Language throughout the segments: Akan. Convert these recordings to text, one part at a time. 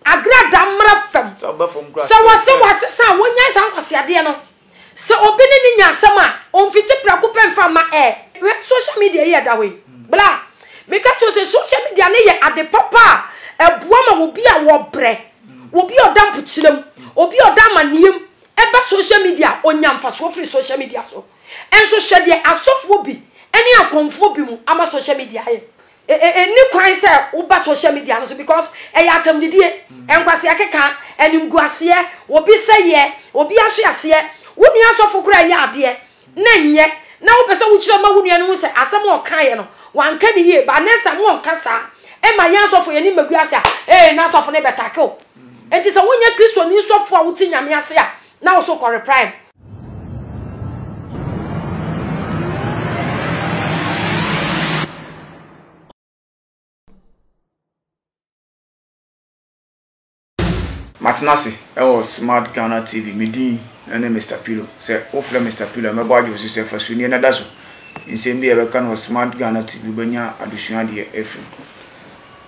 Agrada mmra fam. Sɛ wɔse wɔasesa a wonyae saa nkwaseadeɛ no. Sɛ obi ne ne nya asɛm a, ɔmfiti prɛko pɛ mfa mma ɛ. Hwɛ social media yi a ɛda hɔ yi. Bla! Meka kyerɛ wo sɛ social media no yɛ ade papa a ɛboa ma obi a wɔbrɛ, obi a ɔda mpokyerɛ mu, obi a ɔda amanneɛ mu ba social media a, ɔnya mfasoɔ firi social media so. Nso hwɛ deɛ asɔfoɔ bi ne akɔmfoɔ bi mu ama social media ayɛ. E, e, enni kwan sɛ woba social media no so because ɛyɛ atɛmdidie, mm. nkwaseɛ keka, animguaseɛ, obi sɛyɛ, obi ahye aseɛ, wo nua asɔfo koraa yɛ adeɛ na nyɛ na wopɛ sɛ wokyerɛ ma wo nua no ho sɛ asɛm a ɔkaeɛ no wanka ne yie ba ne sa mo ɔnka saa ɛma yɛn asɔfo yɛne mmagu ase a ee na asɔfo no bɛtake o mm. enti sɛ wonyɛ kristoni sɔfo a wote nyame ase a na wo so kɔre prime matena ase ɛwɔ smart ghana tv me din ɛne mr pillow sɛ wofrɛ mr pillow a mɛbɔ adwo so sɛ fa sunie na da so nsɛm bi a ɛbɛka no wɔ smart ghana tv wobɛnya adesua adeɛ afiri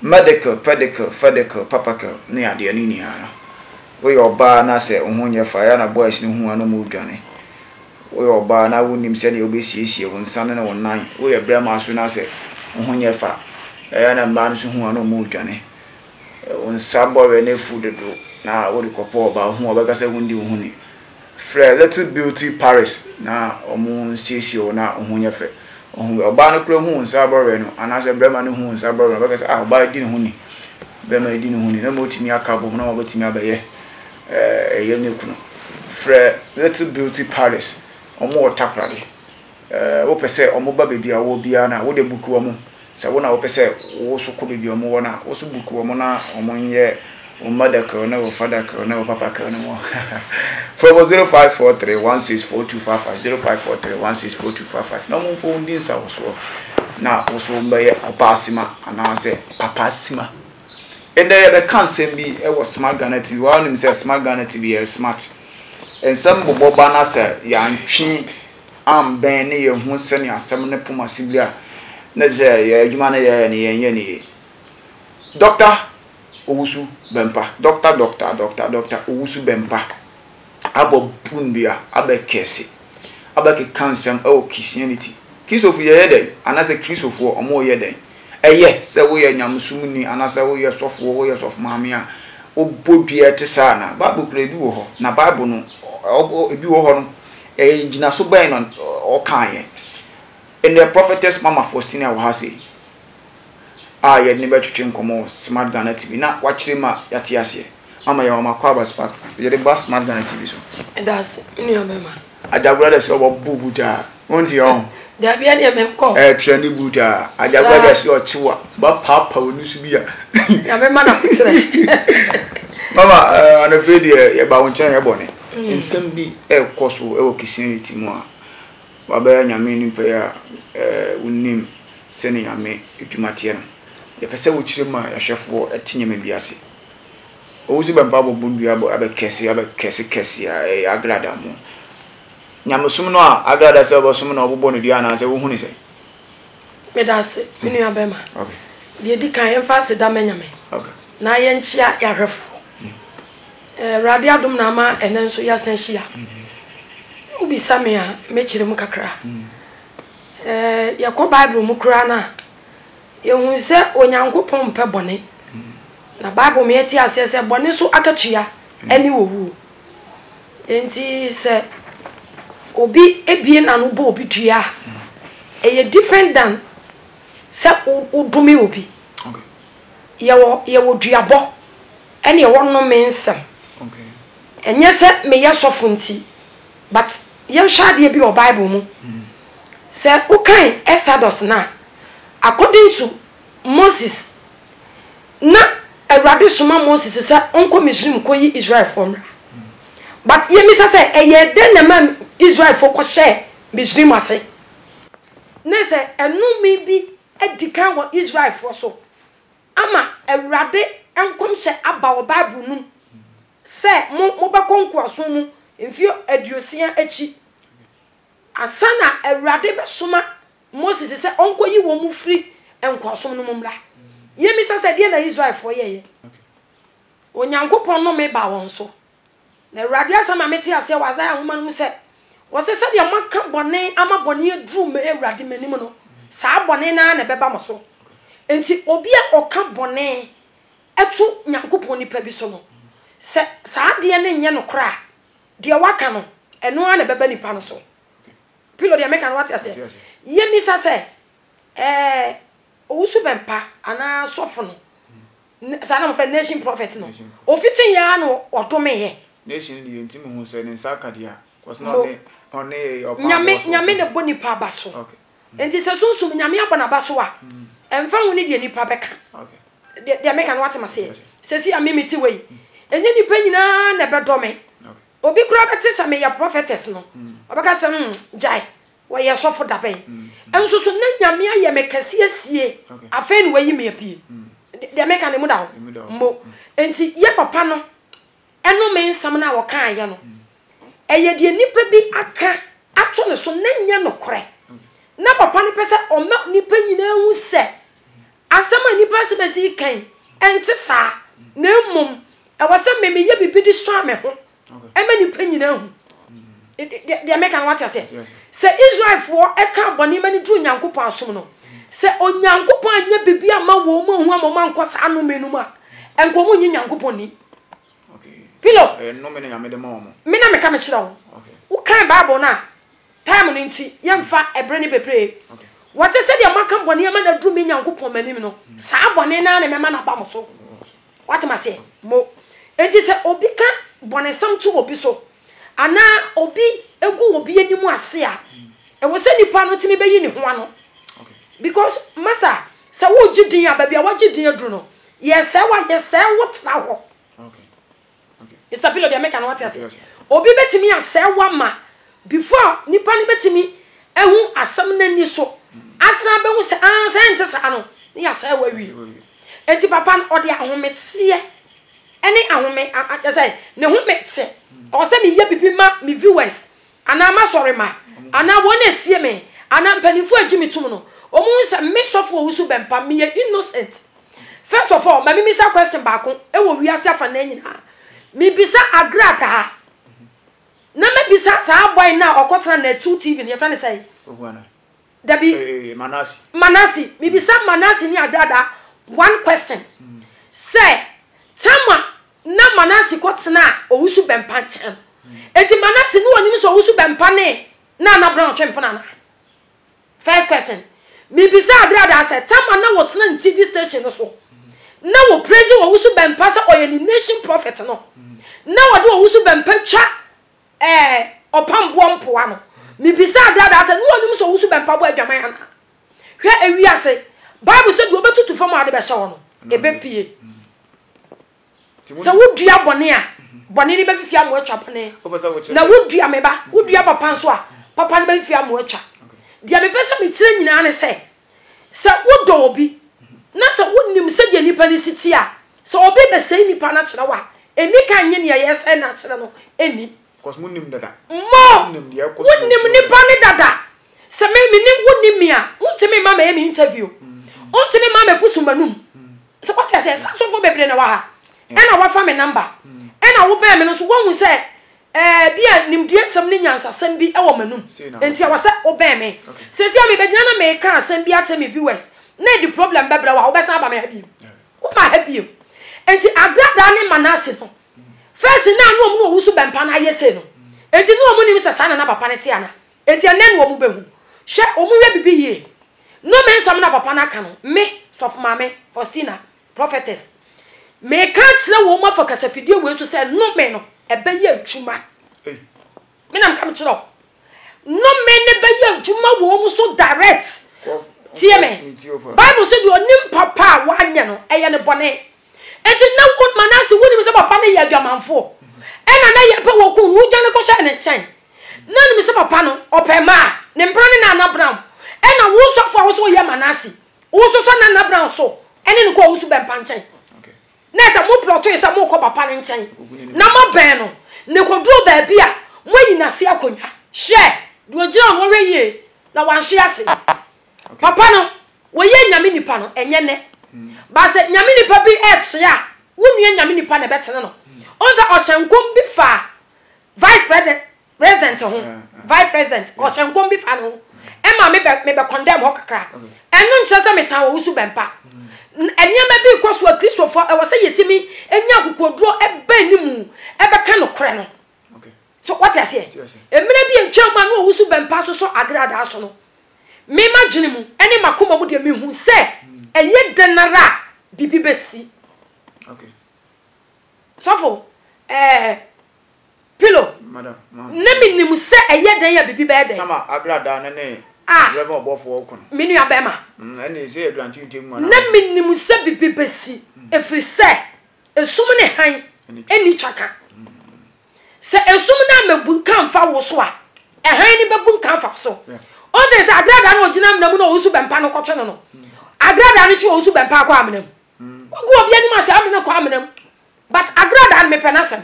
Medical, pedical, fedical, papacal ne adeɛ no nyinaa no woyɛ ɔbaa na sɛ wo ho nyɛ faa ɛyɛ a na boys no hu a na ɔmo dwane. Woyɛ ɔbaa na wo nnim sɛdeɛ wo bɛ siesie wo nsa no ne wo nan. Woyɛ bɛɛma nso na sɛ wo ho nyɛ faa ɛyɛ a na mmaa no nso hu a na ɔmo dwane. Wo nsa bɔwerɛ no afu dodo na wo de kɔpɔ ɔbaa ɔhu a ɔbɛka sɛ wo ndi wo ho ni. Frɛ Little Beauty Paris na wɔnsiesie wo na wo ho nyɛ fɛ. Ohun, ɔbaa no koraa hu wo nsa bɔwerɛ no, anaasɛ barima no hu wo nsa bɔwerɛ no, ɔbɛka sɛ, Ah, ɔbaa yi di ne ho ni, barima yi di ne ho ni, na mmom wɔatumi aka abom na wɔabɛtumi abɛyɛ ɛyɛ ne kunu. Frɛ Little Beauty Paris, wɔwɔ takoradi. Wopɛ sɛ wɔba baabi a wowɔ biara no a, wode buku wɔn. Sɛ wo na wopɛ sɛ wo nso kɔ baabi a wɔwɔ no a, wo nso buku wɔn na wɔnyɛ wo mother kɛw ne wo father kɛw ne wo papa kɛw ne wɔn. Frɛ wɔn 0543164255, 0543164255, na wɔmfa wɔn di nsawosoɔ na wo nso wombɛyɛ ɔbaa sima anaasɛ papa sima. Ɛnnɛ yɛbɛka nsɛm bi wɔ Smart Ghana TV. Woanim sɛ Smart Ghana TV yɛyɛ smart. Nsɛm bobɔ ba na sɛ yɛantwe ambɛn na yɛanhu sɛnea asɛm no poma si bere a na sɛ yɛn adwuma no yɛyɛ no yɛnyɛ no yiye. Dɔkta Owusu-Bempah, Dɔkta Dɔkta Dɔkta Dɔkta Owusu-Bempah abɔ po nnua abɛkɛse, abɛkeka nsɛm wɔ Christianity. Kristofo yɛyɛ dɛn? Anaasɛ Kristofoɔ, wɔyɛ dɛn? Ɛyɛ sɛ woyɛ nyamesomni anaasɛ woyɛ sɔfoɔ, woyɛ sɔfomaame a wobɔ dua te saa anaa? Bible kura ebi wɔ hɔ, na Bible no, ebi wɔ hɔ no, Ngyinaso bɛn na ɔkaeɛ? Ndɛ Prophetess Mama Faustina wɔ ha sei a yɛde no bɛtwetwe nkɔmmɔ wɔ Smart Ghana TV. Na wakyerɛ mu a yɛate aseɛ. Mama yɛwɔ ma kɔ aba Smart yɛde ba Smart Ghana TV so. Medase me nua bɛma. Ajagura dɛ sɛ ɔbɔ bu boot a wonte ɔho. Dabi ɛneɛ menkɔ. Ɛɛ trɛndi boot a ajagura dɛ sɛ ɔkye wo a ba paapa w'ani so bi a. Nyame ma na koterɛ. Mama anɔpa yi deɛ yɛba wo nkyɛn ɛyɛ bɔne. Nsɛm bi rekɔ so wɔ Christianity mu a wɔabɛyɛ Nyame anim pɛyɛ a wonnim sɛnea Nyame adwuma teɛ no. Yɛpɛ sɛ wokyerɛ mu a yɛahwɛfoɔ te nneɛma bi ase. Owusu bɛmpa abobom dua abɔ abɛ kɛse abɛ kɛse kɛse a ɛyɛ Agrada mo. Nyamesom no a Agrada sɛ wɔbɛsom na wɔbobɔ no dua anaasɛ wohu no sɛn? Medase, me nua bɛma. Deɛ ɛdi kan yɛmfa aseda ma Nyame na yɛnkyea yɛahwɛfoɔ. Awurade eh, adom na ama ɛnɛ nso yɛasan hyia. Wobisa me a mɛkyerɛ mu kakra. Eh, yɛkɔ Bible mu koraa no a, yɛhu sɛ Onyankopɔn mpɛ bɔne. Na Bible ma yɛte aseɛ sɛ bɔne so akatua ɛne owuo. Enti sɛ obi abue n'ano bɔ obi dua a, ɛyɛ different than sɛ wodome obi. Yɛwɔ yɛwɔ duabɔ ɛne ɛwɔ nnome nsɛm. Ɛnyɛ sɛ meyɛ sɔfo nti but yɛnhwɛ adeɛ bi wɔ Bible mu. Mm. Sɛ wokan Exodus no a, according to Moses, Na Awurade soma Moses sɛ ɔnkɔ Misraim nkɔyi Israelfoɔ mmra. But yɛmmisa sɛ, ɛyɛɛ dɛn na ɛmaa Israelfoɔ kɔhyɛɛ Misraim ase? Na sɛ ɛnome bi adi kan wɔ Israelfoɔ so ama Awurade nkɔmhyɛ aba wɔ Bible no mu sɛ mo, mobɛkɔ nkoasom mu mfeɛ aduosia akyi ansa na Awurade bɛsoma Mose se sɛ ɔnkɔyi wɔn mu firi nkoasom no mu mmra. Yemmisa sɛ, deɛn na Israelfoɔ yɛeɛ? Onyankopɔn nnome baa wɔn so. Na Awurade asɛm ma mete aseɛ wɔ Isaiah nwoma no mu sɛ, wɔse sɛdeɛ moaka bɔne ama bɔne aduru me Awurade m'anim no, saa bɔne no ara na ɛbɛba mo so. Enti obi a ɔka bɔne to Nyankopɔn nipa bi so no, sɛ saa adeɛ no nyɛ nokorɛ a, deɛ waka no, ɛno ara na ɛbɛba nipa no so. Pillow deɛ meka no wate aseɛ. Yɛmisa sɛ ɛɛ owusu bɛmpa anaa sɔfo no saa na mo fɛ nation prophet no ofiti yɛ ano ɔdome yɛ. Nation deɛ nti mo ho sɛ ne nsa aka deɛ kɔsi na ɔne ɔne ɔpa nyame nyame na bɔ nipa aba so nti sɛ sunsun nyame abɔ n'aba so a ɛnfa ho ne deɛ nipa bɛka deɛ meka no wate ma seɛ sɛsi a mimi ti wei ɛnyɛ nipa nyinaa na ɛbɛdɔ me Obi koraa bɛte sɛ meyɛ prophetess no, ɔbɛka sɛ, mm, gyae, wɔyɛ sɔfo da bɛn? Nso so na Nyame ayɛ me kɛse asie, afei na wayi me apue. Deɛ meka no, emu da hɔ mbo. Nti yɛ papa no ɛnome nsɛm no a ɔkaeɛ no, ɛyɛ deɛ nipa bi aka ato ne so na ɛnyɛ nokorɛ. Na papa no pɛ sɛ ɔma nipa nyinaa hu sɛ, Asɛm a nnipa nsɛm a ɛsii kan ɛnte saa, na mmom ɛwɔ sɛ me meyɛ biribi de sua me ho ɛma nnipa nyinaa hu deɛ meka no wate aseɛ sɛ Israelfoɔ ɛka bɔne ma no duru Nyankopɔn asom no sɛ Onyankopɔn anyɛ biribi ama wɔn mu ahu ama wɔn ankɔ saa nnome no mu a ɛnka wɔn nyɛ Nyankopɔn ni pilo eh, mena meka mekyerɛ wo wokan Bible no a Time no nti, yɛmfa ɛberɛ no bebree. Wɔse sɛdeɛ moaka bɔne ama no aduru me Nyankopɔn m'anim no, saa bɔne no ara na mɛma no aba mo so. Woate m'aseɛ? Mo. Enti sɛ obi ka bɔnesɛm to obi so, anaa obi gu obi anim ase a, ɛwɔ sɛ nipa no tumi bɛyi ne ho ano. Because, Martha, sɛ wogye din a, baabi a wagye din aduru no, yɛsɛe wo a, yɛsɛe wo tena hɔ. Mister Pillow deɛ meka no wate ase. Obi betumi asɛe wama before nipa no betumi ehu asɛm n'ani so. Asan behu sɛ ah sɛ nte saa no ne yasɛe wa wi. Eti papa no ɔde ahometeɛ ɛne ahome ɛsɛ ne ho mete. Ɔwɔ sɛ meyɛ bibi ma me viewers Anaa m'asɔremma, anaa wɔn a etie me, anaa mpanyimfo a egye me tom no, wɔhu sɛ me sɔfo a owusu bɛmpam me yɛ innocent. First of all, ma mimmisa question baako wɔ wiase afanan nyinaa. Mibisa agradaa, na mabisa saa boy no a ɔkɔtena Natu TV no, yɛfrɛ no sɛn? Oguana. Dabi. Eh, eh, Manasi. Manasi. Mibisa Manasi ni agradaa one question. Mm. Sɛ, Tama Nna Manase kɔtsenaa owusu bɛmpa nkyɛn. Ntsi Manase no onnyim dɛ owusu bɛmpa ne naana bena ɔtwe mpena no a? First question, Mibisa aber a dza sɛ Tamar na wɔtsena ne TV station no so na wɔ praise owusu bɛmpa sɛ ɔyɛ ne nation prophet no na wɔdze owusu bɛmpa twa ɛɛ ɔpam boɔ mpoa no mibisa aber a dza sɛ no onnyim sɛ owusu bɛmpa bɔ adwaman anaa? Hwɛ ewiase Bible sɛ deɛ ɔbɛtutu fam a ɔde bɛhyɛ hɔ no ɛbɛpue. sɛ wodua bɔne a bɔne no bɛfifi ama atwa bɔne na wodua me ba wodua papa nso a papa no bɛfifi ama atwa deɛ mepɛ sɛ mekyerɛ nyinaa ne sɛ sɛ wodɔ obi na sɛ wonim sɛdeɛ nnipa no si te a sɛ obi bɛsɛe nnipa no akyerɛ wo a ɛni ka nye neɛ yɛsɛe no akyerɛ no ɛni mo wonim nnipa no dada Sɛ me menim wo nim me a, wontumi mma mɛyɛ me interview. Wontumi mma mɛbusu m'anum. Sɛ wate aseɛ, saa sɔfoɔ bebree na wɔ ha. Ɛna wafa me number. Ɛna wobɛn me no nso woahu sɛ ɛɛ bi a nimdeɛsɛm ne nyansasɛm bi wɔ m'anum. Enti ɛwɔ sɛ wobɛn me. Seesei a mebɛgyina na mereka asɛm bi akyerɛ me viewers na ɛde problem bɛbrɛ wo a, wobɛsan aba me ha bio? Womma ha bio. Enti Agradaa ne Manase no, first na na wɔn na wɔwusu bɛmpa no ayɛ sei no. Enti na wɔnim sɛ saa na na papa no te anaa? Enti ɛnnɛ ne wɔn bɛhu. Hwɛ, wɔnyɛ biribi yie. Nnome nsɛm na papa no aka no, me, Sɔfo Maame Faustina, Prophetess, meka akyerɛ wɔn afa kasafidie wei so sɛ nnome no, ɛbɛyɛ adwuma. Me na meka mekyerɛ wo. Nnome no bɛyɛ adwuma wɔ wɔn so direct. Tie me. Bible sɛ deɛ ɔnim papa a wanyɛ no, ɛyɛ ne bɔne. Enti nnɛ wo ma no ase wonim sɛ papa no yɛ adwamanfo. Ɛna na yɛpɛ wɔ kun no wodwane kɔhyɛ ne nkyɛn. Na nim sɛ papa no ɔpɛ mmaa. Ne mpena ne Nana Brown. Ɛna wo sɔfo a wo sɛ woyɛ Manase. Wo nso sɔ Nana Brown so ɛne no kɔ Owusu Bɛmpa nkyɛn. Na ɛsɛ mo plɔtoe sɛ mokɔ papa no nkyɛn na mabɛn no na ɛkɔduru baabi a moayi no ase akonnwa. Hwɛ! Deɛ ɔgyina hɔ no ɔhwɛ yie na wanhwe ase. Papa no wɔyɛ Nyame nipa no ɛnyɛ nɛ but sɛ Nyame nipa bi ɛɛkye a wo nua Nyame nipa na ɛbɛtene no wohu sɛ ɔhyɛ nkɔm bi faa vice president president ho vice president ɔhyɛ nkɔm bi faa ne ho ɛma me bɛ me bɛ condemn hɔ kakra ɛno nkyerɛ sɛ metan wɔ wusu bɛmpa nneɛma bi kɔ so a kristofo ɛwɔ sɛ yɛtumi nya akokoduro ɛbɛn ne mu ɛbɛka nokorɛ no so wate aseɛ mmerɛ bi nkyɛn mu a na ɔwusu bɛmpa sosɔ agradaa so no me ma dwene mu ɛne makoma mu deɛ mehu sɛ hmm. ɛyɛ dɛn ara a biribi bɛsi sɔfo ɛɛ pilo na menim sɛ ɛyɛ dɛn a biribi bɛyɛ dɛn Ah. me nua bɛma mm, na menim sɛ bibi bɛsi ɛfiri mm. sɛ ɛsum ne han ɛni twaka mm. Sɛ esum no ammebunkam mfa wo so a, hann no bebunkam afa wo so. Ɔte sɛ agradaa no a ogyina amena mu na ɔresu bɛmpa no kɔtwe no no. Agradaa no kyi ɔresu bɛmpa akɔ amena mu. Wogu obi anim ase amena kɔ amena mu. But agradaa no mepɛ n'asɛm.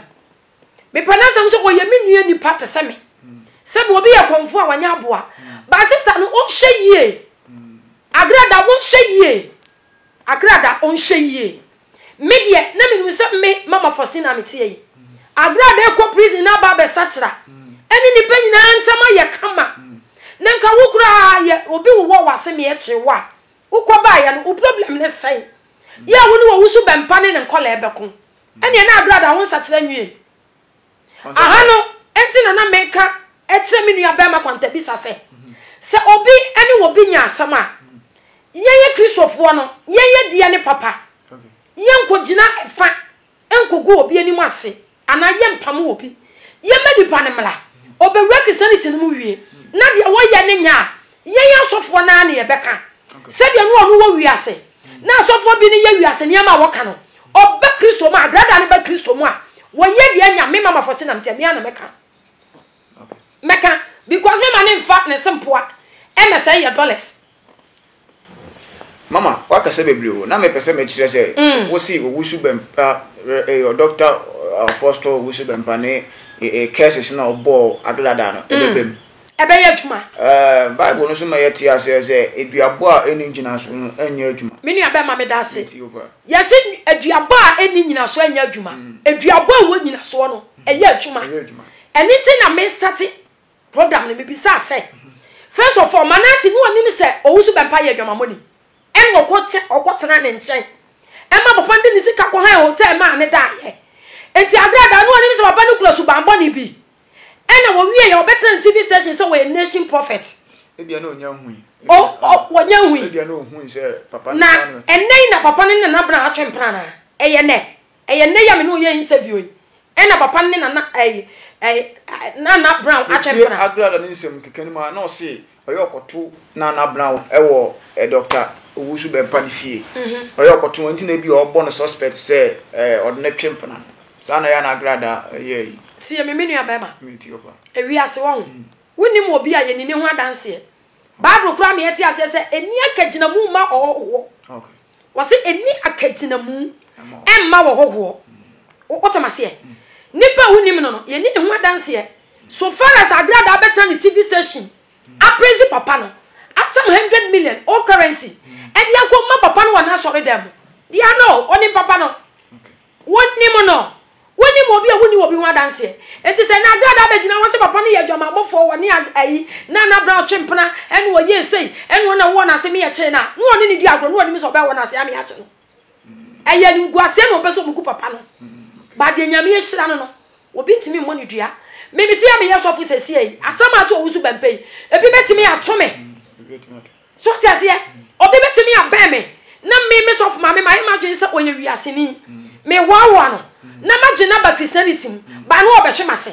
Mepɛ n'asɛm sɛ ɔyɛ me nua nipa te sɛ me. Sɛ bi obi yɛ kɔmfo a wanya aboa. Ba sista no wonhyɛ yie. Agradaa wonhyɛ yie. Agrada ɔnhyɛ yie. Me deɛ na menim sɛ me Mama Faustina a meteɛ yi, Agrada rekɔ prison na aba abɛsakyera. Ɛne nnipa nyinaa ntam ayɛ kama. Na nka wo koraa yɛ obi wowɔ w'ase meɛ kyere wo a, wokɔbaeɛ no wo problem no sɛn? Yɛ a wo ne w'awusu bɛmpa ne ne nkɔlaa bɛko. Ɛneɛ na Agrada wo nsakyera nwie. Aha no nti na na meka kyerɛ me nua bɛrima kwantabisa sɛ, sɛ obi ne obi nya asɛm a, yɛyɛ Kristofoɔ no, yɛnyɛ deɛ ne papa. Yɛnkɔgyina fa nkɔgu obi anim ase anaa yɛmpamo obi. Yɛmmɛ nipa no mmra ɔbɛwura Christianity no mu wie, na deɛ wɔyɛ no nyɛ a, Yɛn asɔfoɔ no ara na yɛbɛka sɛdeɛ no ɔno wɔ wiase na asɔfoɔ bi no yɛ wiase nneɛma a wɔka no ɔba kristo mu a brada no ba kristo mu a wɔyɛ deɛ anya me mama fɔ se nam sɛ me ana mɛka mɛka because me ma ne nfa ne se mpoa ɛna sɛ yɛ dollars mama wakasa bebree o na mepɛ sɛ mekyerɛ sɛ mm. wosi owusu bɛmpa ɛyɛ dɔkta apostol owusu bɛmpa ne curses na ɔbɔɔ agrada no ɛbɛbɛm mm. ɛbɛyɛ adwuma. Bible no nso ma yɛte aseɛ sɛ aduabɔ a ɛnni nnyinasoɔ no nyɛ adwuma. Me nuabɛrima, meda ase. Yɛse aduabɔ a ɛnni nnyinasoɔ nyɛ adwuma. Mm. Aduabɔ a ɛwɔ nnyinasoɔ no, mm. ɛyɛ adwuma. Ɛno nti na me starte program no, mebisaa sɛ, mm-hmm. first of all, Manase ne ɔnim sɛ Owusu Bɛmpa yɛ adwamammɔni. Ɛna ɔkɔtena ne nkyɛn. Ɛma papa no de ne sika kɔhan hotel maa ne daeɛ. Enti aberɛ a daa ne ɔnim sɛ papa no kura subammɔne bi. Ɛna wɔwie yɛ ɔbɛtena ne TV station sɛ wɔyɛ nation prophet. Ebia na ɔnya hui. Ɔ ɔ wɔnya hui. Ebia na ɔhui sɛ papa no saa no. Na ɛnɛ yi na papa no ne nana bena atwe mpena anaa? Ɛyɛ nɛ? Ɛyɛ nɛ yi a me ne wo yɛ interview yi ɛna papa no ne nana ɛyi ɛyi nana bena atwe mpena. Metie Agrada ne nsɛm keka no mu a na ɔse Ɔyɛ ɔkɔto na na Brown wɔ Doctor Owusu Bempah ne fie. Ɔyɛ ɔkɔto no nti na ebi a ɔbɔ no suspect sɛ ɔde no twe mpena no. Saa na ɛyɛ a na Agrada yɛ ayi. Tie me, me nuabarima. Metie wo paa. Ewiase, wahu. Wonnim obi a yɛnni ne ho adanseɛ. Bible koraa ma yɛte aseɛ sɛ ɛnni akagyinamu mma ɔhɔhoɔ. Okay. Wɔse ɛnni akagyinamu mma wɔ hɔhoɔ. Wotem aseɛ? Nipa a wonim no no, yɛnni ne ho adanseɛ. So far as Agradaa bɛtena ne TV station apraise papa no, atam hundred million old currency de akɔma papa no wɔ n'asɔredan mu, deɛ no, ɔnim papa no. Wonim no? Wonim obi a wonni obi ho adanseɛ? Enti sɛ ɛnɛ adaadaa bɛgyina hɔ sɛ papa no yɛ adwamanbɔfoɔ, wɔne ayi, Nana Brown twe mpena, ɛne ɔyɛ sei, ɛne wɔn na wɔwɔ no ase meɛ kyee no a, na wɔne no di agorɔ, na wɔnim sɛ ɔbɛyɛ wɔn ase ame akye no. Ɛyɛ animguaseɛ na wɔpɛ sɛ wɔgu papa no. Ba deɛ Nyame ahyira no no, obi ntumi mmɔ no dua. Me mete a meyɛ sɔfo sɛsie yi, asɛm a ato ɔwosu bɛmpɛ yi, ebi bɛtumi ato me. So ate aseɛ? Obi bɛtumi abɛn me na me me sɔfo maame mayɛ m'adwene sɛ ɔyɛ wiaseni. Mehoahoa no na magye no aba Christianity mu baa no ɔbɛhye m'ase.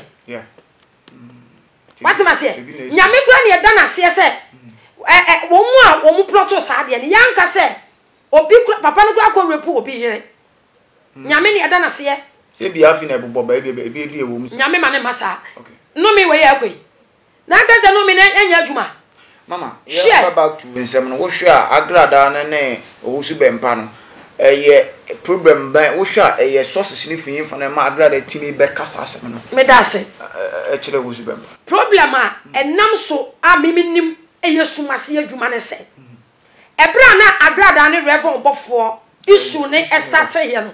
Wate m'aseɛ? Nyame kura ne ɛda n'aseɛ sɛ wɔn mu a wɔn plɔto saa adeɛ no yɛanka sɛ obi kura papa no kura akɔ repu obi yere. Nyame ne ɛda n'aseɛ. Sɛ bi afi na ɛbobɔ baabi ebi ebi ɛwɔ mu. Nyame ma ne ma saa. Nnome wɔ yɛ akɔ yi. Na nka sɛ no me na ɛnyɛ adwuma. Mama, yɛba back to nsɛm no, wohwɛ a agradaa no ne owusu bɛmpa no, ɛyɛ problem bɛn? Wohwɛ a ɛyɛ sources no fi he fa na ɛma agradaa tumi bɛka saa asɛm no? Meda ase. Ɛkyerɛ owusu bɛmpa. Problem a ɛnam so a me menim yɛ sum ase adwuma ne sɛ, ɛberɛ a na agradaa ne Rev. Ɔbɔfoɔ issue no starteeɛ no,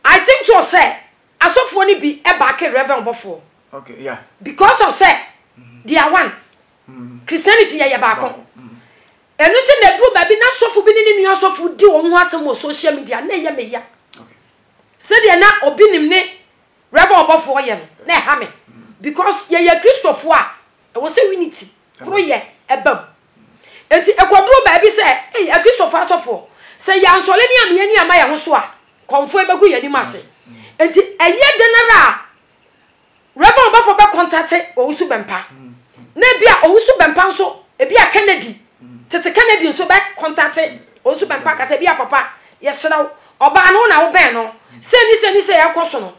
I think so sɛ Asɔfoɔ no bi baake Rev. Ɔbɔfoɔ because of sɛ they are one. Christianity yɛyɛ baako. Ɛno nti na ɛduru baabi na asɔfo bi ne ne nua asɔfo di wɔn ho atam wɔ social media na ɛyɛ me ya. Sɛdeɛ na obi nim ne Rev. Ɔbɔfoɔ yɛ no na ɛha me because yɛyɛ Kristofoɔ a ɛwɔ sɛ unity koro yɛ ɛbam. Enti ɛkɔduru baabi sɛ, ei, Akristofo asɔfo, sɛ yɛansɔre ne amee ani amma yɛn ho so a, kɔmfoe bɛgu yɛn anim ase. Enti ɛyɛ dɛn ara a, Rev. Ɔbɔfo bɛkɔntate Owusu Bɛmpa. Na ebia Owusu Bɛmpa nso, ebia Kennedy, tete Kennedy nso bɛkɔntate Owusu Bɛmpa aka sɛ, ebia papa, yɛsrɛ wo, ɔbaa no, wo na wobɛn no, sei ne sei ne sei a ɛrekɔ so no,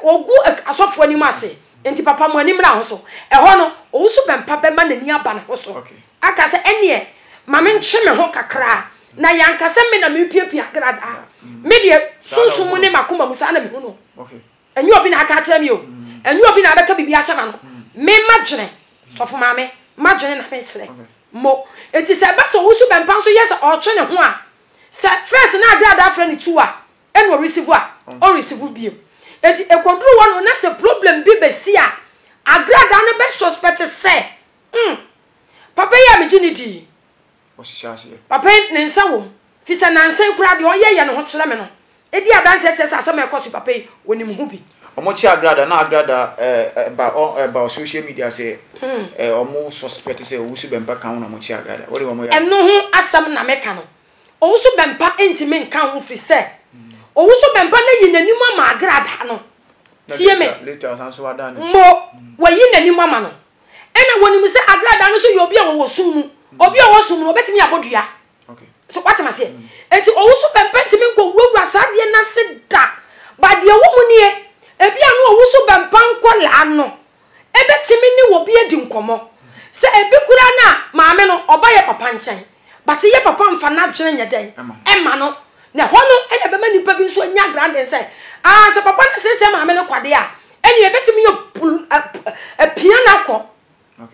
ogu asɔfo anim ase, Enti papa, mo ani mmra ho so. Ɛhɔ no, owusu bɛmpa bɛma n'ani aba ne ho so, aka sɛ, Ɛnneɛ, ma menkye me ho kakra, na yɛanka sɛ me na merepiapia agradaa. Me deɛ, sunsum mu ne m'akoma mu, saa na mehu no. Ɛnyɛ obi na aka akyerɛ me o. Ɛnyɛ obi na abɛka biribi ahyɛ m'ano. Me madwene, sɔfo maame, madwene na mekyerɛ mo. Enti sɛ ɛba sɛ owusu bɛmpa nso yɛ sɛ ɔretwe ne ho a, sɛ first na agradaa frɛ no two a, Ɛna ɔresivu a ɔresivu biem. Eti ekoduru hɔ no na sɛ problem bi besi a, agradaa no bɛ suspect sɛ, hmm, papa yi a megye ne di yi, papa yi ne nsa wom. Fi sɛ nansa yi koraa deɛ ɔyɛ yɛ ne ho kyerɛ me no edi adanseɛ kyerɛ sɛ asɛm a ɛkɔ so papa yi onim ho bi. Ɔmo kye agradaa na agradaa ɛɛ ɛba ɔ ɛba social media sɛ ɛɛ ɔmo suspect sɛ owusu bɛmpa kan ho na ɔmo kye agradaa. Wɔde wɔn yɛ. Ɛno ho asɛm na meka no. Owu so bɛmpa ntumi nka ho firi sɛ owu so bɛmpa no ayi n'anim ama agradaa no. Tie me. Mo, wayi n'anim ama no. Ɛna wɔnim sɛ agradaa no so yɛ obi a wɔwɔ sum mu. Obi a ɔwɔ sum no, ɔbɛtumi abɔ dua. So watema seɛ. Enti owu so bɛmpa ntumi nkɔ wurawura saa adeɛ no ase da. Ba deɛ ɛwɔ mu nie, ebi a no owu so bɛmpa nkɔlaa no, ebetumi ne obi adi nkɔmmɔ. Sɛ ebi koraa na maame no ɔba yɛ papa nkyɛn but yɛ papa mfa n'adwene nyɛ dɛn mma no na ɛhɔ no na ɛbɛma nnipa bi nso anya grounding sɛ ah sɛ papa no sere kyɛ maame no kwa deɛ a ɛnneɛ ebetumi yɛ pul ɛ ɛ pia no akɔ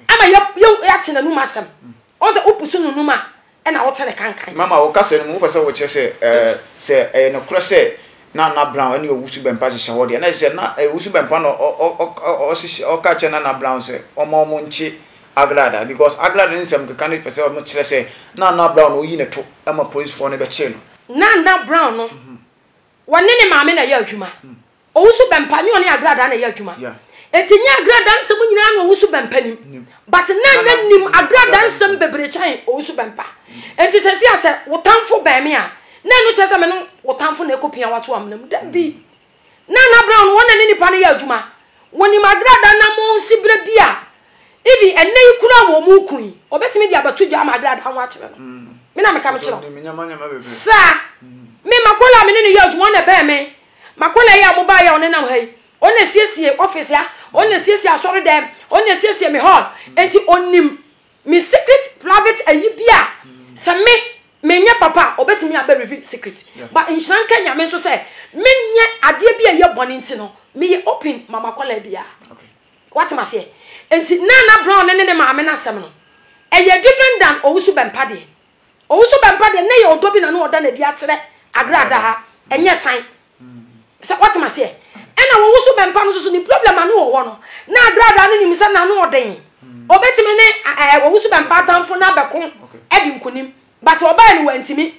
ama yɛ yɛ yɛate n'anum asɛm Ɔn sɛ wopusu no num a, ɛna wote ne kankan. Mama, wo kasa no mu, wopɛ sɛ wokyerɛ sɛ sɛ ɛyɛ nokorɛ sɛ Nana Brown ne Owusu Bɛmpa hyehyɛ hɔ deɛ, na ɛsɛ sɛ na Owusu Bɛmpa na ɔka kyerɛ Nana Brown sɛ ɔmma wɔn nkye Agrada, because Agrada ne nsɛm keka no pɛ sɛ wɔkyerɛ sɛ Nana Brown na ɔyi ne to ma polisfoɔ no bɛkyee no. Nana Brown no, wɔne ne maame na ɛyɛ adwuma, Owusu Bɛmpa ne ɔne Agradaa na ɛyɛ adwuma. Enti nyɛ Agradaa nsɛm nyinaa na Owusu Bɛmpa nim. But Nana nim Agradaa nsɛm bebree kyɛn Owusu Bɛmpa. Enti sɛsi a sɛ wo tamfo bɛn me a, na ɛno kyerɛ sɛ me ne wo tamfo na ɛkɔpia wato amena mu. Dabi. Nana Brown wɔn na ne nipa no yɛ adwuma. Wɔnim Agradaa na mo nsi berɛ bi a even ɛnɛ yi kura wɔ mu kun yi, ɔbɛtumi de abɛto dwa ama Agradaa ho akyerɛ no. Mm. Me na meka mekyerɛ. Saa. Mm. Me Makola a me ne no yɛ adwuma ɔna ɛbɛn me. Makola yi a mobaeɛ a ɔnenam ha yi, ɔno na ɛsiesiee office ha, ɔno na ɛsiesiee asɔredɛm, ɔno na ɛsiesiee me hall, enti ɔnim me secret private ayi bi a sɛ me menyɛ papa a ɔbɛtumi abɛ reveal secret. But nhyira nka Nyame nso sɛ menyɛ adeɛ bi a ɛyɛ bɔne nti no, meyɛ open ma Makola biara. Woate me aseɛ? Enti Nana Brown ne ne maame no asɛm no, ɛyɛ different than Owusu-Bempah deɛ. Owu so bɛba deɛ, ne yɛ ɔdɔ bi na ne ɔda no adi akyerɛ Agrada ha, ɛnyɛ tan. Sɛ woate m'aseɛ? Ɛna owu so bɛmpa no nso so ne problem a ne wɔ hɔ no, na Agrada no nim sɛ n'ano ɔden. Ɔbɛtumi ne ɛɛ owu so bɛmpa atamfo no abɛko adi nkunim. But ɔbaa no wantumi.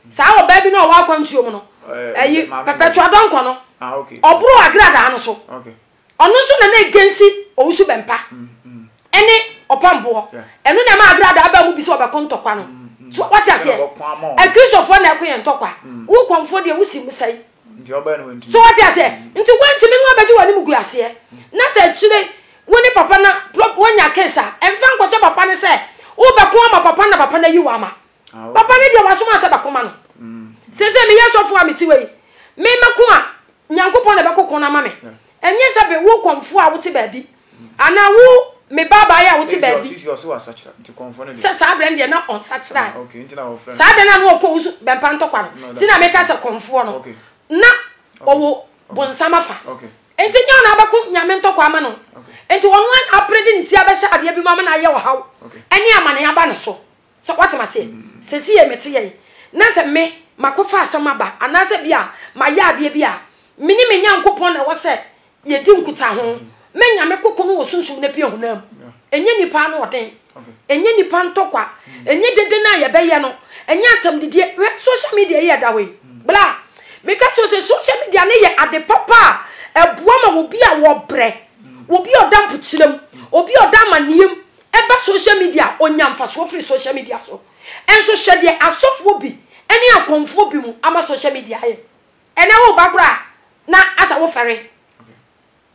Saa ɔbaa bi na ɔwɔ akwantuo mu no, ɛyi, Perpetua Donkor no, ɔboro Agrada no so. Ɔno nso na na egensi owusu bɛmpa ɛne ɔpam boɔ. Ɛno na ɛma abrada aba mu bi sɛ ɔbɛko ntɔkwa no. So wate aseɛ? Akristofoɔ na ɛko yɛn ntɔkwa. Wo kɔmfoɔ deɛ wosi mu sɛe. So wate aseɛ? Nti wantumi no abɛgye w'anim gu aseɛ. Na sɛ akyire wo ne papa na wanya kesa, ɛmfa nkɔhyɛ papa no sɛ wobɛko ama papa na papa no ayi wo ama. Papa ne deɛ wasoma asɛ bɛko ma no sese meyɛ sɔfo a mete wei me mɛko a Nyankopɔn na ɛbɛko ko no ama me ɛnyɛ sɛ be wo kɔmfo a wote baabi anaa wo me baabaeɛ a wote baabi sɛ saa berɛ no deɛ na ɔnsakyera saa berɛ no a na ɔkɔ wo so bɛmpa ntɔkwa no nti na meka sɛ kɔmfoɔ no na ɔwɔ bonsam afa nti nyɛ ɔna abɛko nyame ntɔkwa ama no nti ɔno apere de ne ti abɛhyɛ adeɛ bi mu ama no ayɛ ɔhaw ɛne amane aba no so So woate me aseɛ? Sɛsi yɛ mete yɛ yi, na sɛ me makɔfa asɛm aba anaasɛ bi a mayɛ adeɛ bi a, me ne me Nyankopɔn na ɛwɔ sɛ yɛdi nkutaho. Me Nyame koko no wɔ sunsum na pia honam. Ɛnyɛ nipa ano ɔden. Ɛnyɛ nipa ntɔkwa. Ɛnyɛ dede no a yɛbɛyɛ no. Ɛnyɛ atam didie. Hwɛ social media yi ɛda hɔ yi. Bla. Meka kyerɛ sɛ social media no yɛ ade papa a ɛboa ma obi a wɔbrɛ, obi a ɔda mpokyerɛ mu, obi a ɔda amanneɛ mu, Ɛba social media a, ɔnya mfasoɔ firi social media so nso. Hyɛ deɛ asɔfoɔ bi ne akɔmfoɔ bi mu ama social media ayɛ. Ɛnɛ woba koraa na asɛ wofɛre.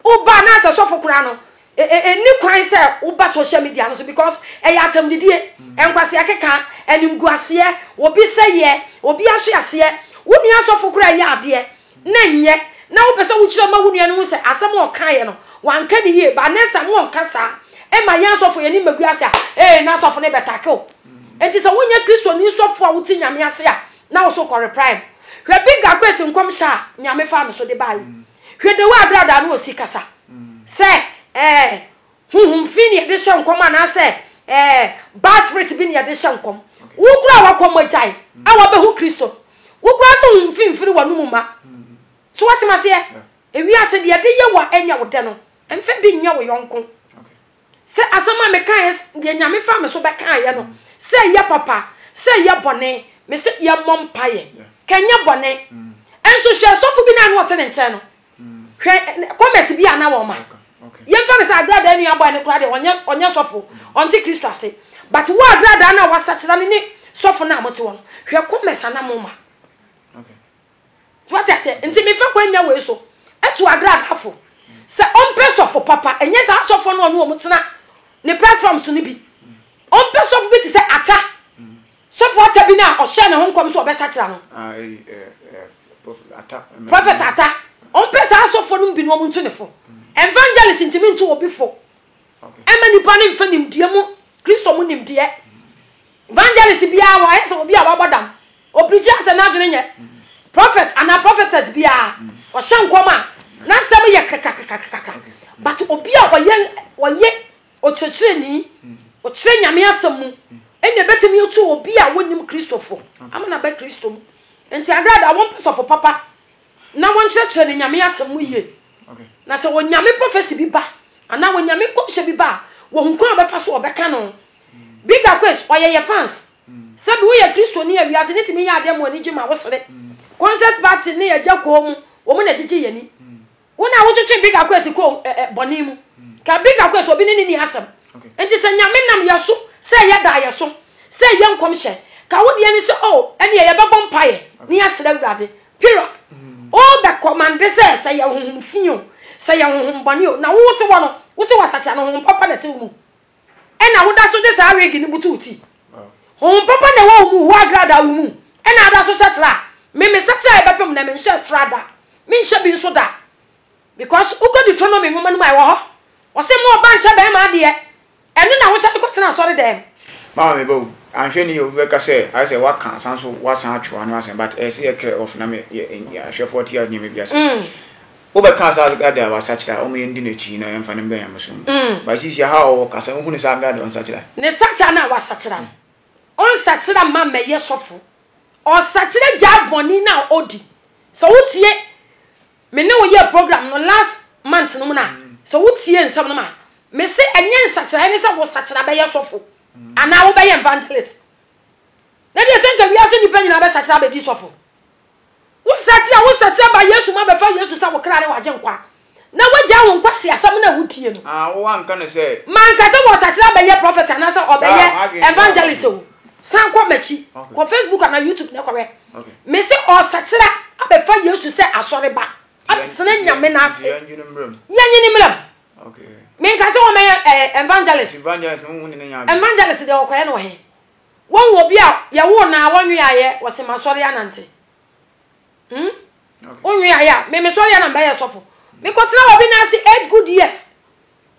Woba na asɛ sɔfo koraa no, ɛnni kwan sɛ woba social media no so because ɛyɛ atɛmdidie, nkwasea keka, animguaseɛ, obi sɛeɛ, obi ahye aseɛ. Wo nua asɔfo koraa yɛ adeɛ na ɛnyɛ na wopɛ sɛ wokyerɛ ma wo nua no hu sɛ asɛm a ɔkaeɛ no wanka ne yie ba ne sa mo ɔnka saa ɛma yɛn asɔfo yɛne ma gu ase a ee na asɔfo no bɛtake o enti sɛ wonyɛ kristoni sɔfo a wote nyame ase a na wo so kɔreprae no hwɛ bi ga kwesi nkɔmhyɛ a nyame faa no so de baeɛ hwɛ de wo agradaa no ɔsi kasa sɛ ɛɛ Honhom fi na yɛde hyɛ nkɔm anaasɛ ɛɛ bad spirit bi na yɛde hyɛ nkɔm. Wo koraa wakɔ mogyae a wabɛhu Kristo no, wo koraa nso honhom fi mfiri w'anom mma. So woate me aseɛ? Ewiase deɛ ɛde yɛ wo a ɛnyɛ wo dɛ no, mfa bi nyɛ wo yɔnko. Sɛ asɛm a mekaeɛ deɛ Nyame faa me so bɛkaeɛ no, sɛ ɛyɛ papa, sɛ ɛyɛ bɔne, mese yɛmmɔ mpaeɛ. Ka ɛnyɛ bɔne. Nso hwɛ sɔfo bi no a na ɔte ne nkyɛn no, hwɛ commerce bi a na wɔn ma yɛmfa no sɛ agradaa nua bɔe no koraa deɛ ɔnyɛ ɔnyɛ sɔfo ɔnte kristo ase but wo agradaa no a wasakyera no ne sɔfo no a mote hɔ no hwɛ commerce a na mo ma so wate aseɛ nti mefa kwan nya wei so ɛto agradafo sɛ ɔmpɛ sɔfo papa ɛnyɛ saa sɔfo no ɔne wɔn tena ne platform so no bi ɔmpɛ sɔfo bi te sɛ ata Sɔfo Atta bi no a ɔhyɛɛ ne ho nkɔm sɛ ɔbɛsakyera no. Prophet Atta, ɔmpɛ saa asɔfoɔ nom bi no ɔmo nto ne fo. Evangelist ntumi nto obi fo ɛmma nipa no nfa nimdeɛ mu Kristo mu nimdeɛ. Evangelist biara wɔ ayɛ sɛ obi a wabɔ dam, ɔpreachi asɛ n'adwene nyɛ. Prophet anaa prophetess biara ɔhyɛ nkɔm a n'asɛm yɛ kekakekakeka but obi a ɔyɛ ɔyɛ Ɔkyerɛkyerɛni, Ɔkyerɛ Nyame Asɛm mu. Ɛnneɛ bɛtumi atu obi a wɔnnim Kristo fo ama no aba Kristo mu. Enti Agradaa wɔmpɛ sɔfo papa na wɔnkyerɛkyerɛ no Nyame Asɛm mu yie. Na sɛ Onyame prɔfɛsi bi ba anaa Onyame nkɔmhyɛ bi ba a, wɔhu kwan a wɔbɛfa so a wɔbɛka no. Big Aquays, Ɔyɛ yɛ fans. Sɛbe woyɛ Kristoni a, wiase no tumi yɛ adeɛ ma w'ani gye ma wosere. Concert Party ne Agya Koomu, wɔn na ɛgyegye yɛn ani. Wo na wotwetwe Big Akwesi kɔ eh, eh, bɔne mu. Ka Big Akwesi obi ne ne ni asɛm. Nti sɛ nyame nam yɛ so sɛ yɛ da yɛ so sɛ yɛ nkɔmhyɛ ka wo deɛ ne sɛ o oh, ɛneɛ yɛbɛbɔ mpaeɛ ne yɛsrɛ awurade period. Mm. O bɛ kɔmande sɛ sɛ yɛ honhom fi o sɛ yɛ honhom bɔne o na wo te hɔ no wo sɛ wasakyera no honhom papa na ɛte wo mu. Ɛna woda so de saa wig no butu wo ti. Honhom papa na ɛwɔ wo mu, hua agra da wo mu. Ɛna ada so hyɛ tra. Me me sakyera a ɛbɛpem na menhyɛ tra da. Menhyɛ bi nso da. Because wokɔ Deuteronomy nwoma no mu a ɛwɔ hɔ. Ɔse mo ɔba nhyɛ bɛɛma adeɛ. Ɛno na wohyɛ de kɔ tena asɔre dɛm. Mama me ba o. Anhwɛ ni obi bɛka sɛ ayɛ sɛ waka asan nso wasan atwe w'ano asɛn but ɛyɛ sɛ yɛ clear off na me yɛ ahwɛfoɔ te a nneɛma bi ase. Wobɛka saa Agrade a wasakyera a, wɔn yɛn di n'akyi yi na yɛn fa no mbɛ nyamesom mu. But sisi aha a ɔwɔ kasa, wohu no sɛ Agrade ɔnsakyera. Ne sakyera no a wasakyera no, ɔnsakyera mma mmɛyɛ sɔfo. Ɔsakyera gyae bɔne no a odi. Sɛ wotie me ne wo yɛɛ program no last month no mu no a, sɛ wotie nsɛm no mu a, mese ɛnyɛ nsakyeraeɛ ne sɛ wosakyera bɛyɛ sɔfo anaa wobɛyɛ evangelist. Na deɛ sɛ nka wiase nnipa nyinaa bɛsakyera abɛdi sɔfo. Wo nsakyera a wonsakyera baa Yesu mu abɛfa Yesu sɛ wo kra ne w'Agyenkwa, na woagyae wo nkwa si asɛm no a wotie no. Ah, wo anka no sɛ. Manka sɛ wɔsakyera abɛyɛ prophet anaasɛ ɔbɛyɛ evangelist o. San kɔ m'akyi, kɔ Facebook anaa YouTube na kɔhwɛ. Mese ɔsakyera abɛfa Yesu sɛ asɔreba, abɛtena Nyame n'ase. Yɛnye ne mmerɛm. Menka sɛ wɔmɛyɛ eh, evangelist. Evangelist deɛ ɔkɔyɛ no wɔ he? Woahu obi a yɛwoo no a wɔnweaeɛ? Wɔse masɔre anante. Hmm? Wonweaeɛ a, me mesɔreɛ na mbɛyɛ sɔfo. Mekɔtena obi no ase eight good years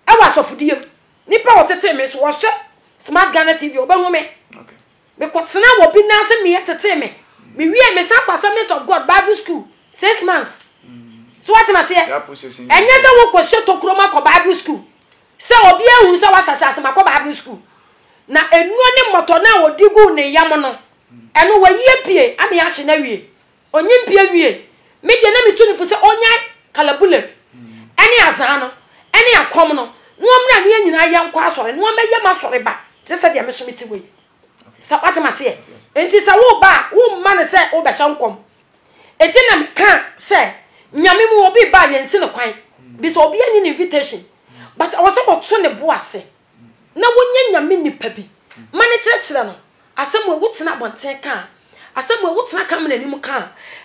ɛwɔ asɔfodie mu. Nipa a wɔtetee me so wɔhwɛ Smart Ghana TV wɔbɛhu me. Mekɔtena obi no ase meyɛ tetee me. Mewie mesan kɔ Assemblies of God Bible School six months. So wɔtena aseɛ. Ɛnyɛ sɛ wokɔhyɛ tokuro mu akɔ Bible School. Sɛ obi ahu sɛ wasa sase ma kɔ Bible sukuu, na nnuro ne mmɔtɔ no a wɔde guu ne yam no, ɛno wayi apue ama yɛahye no awie. Ɔnyimpie wiei. Me deɛ na metu no fo sɛ ɔnyae kalabulem ne azaa no ne akɔm no na ɔmmra ne yɛn nyinaa yɛnkɔ asɔre na ɔmmɛyɛ m'asɔreba te sɛ deɛ me nso mete hɔ yi. sɛ wate ma seɛ nti sɛ woba a womma no sɛ wobɛhyɛ nkɔm ɛti na meka sɛ nyame mu obi ba yɛnsi no kwan bi sɛ obi anyi ne invitation but ɔwɔ sɛ wɔto ne bo ase na wonyɛ nyame nipa bi ma ne kyerɛkyerɛ no asɛm a wotena abɔnten ka a asɛm a wotena ka mena anim ka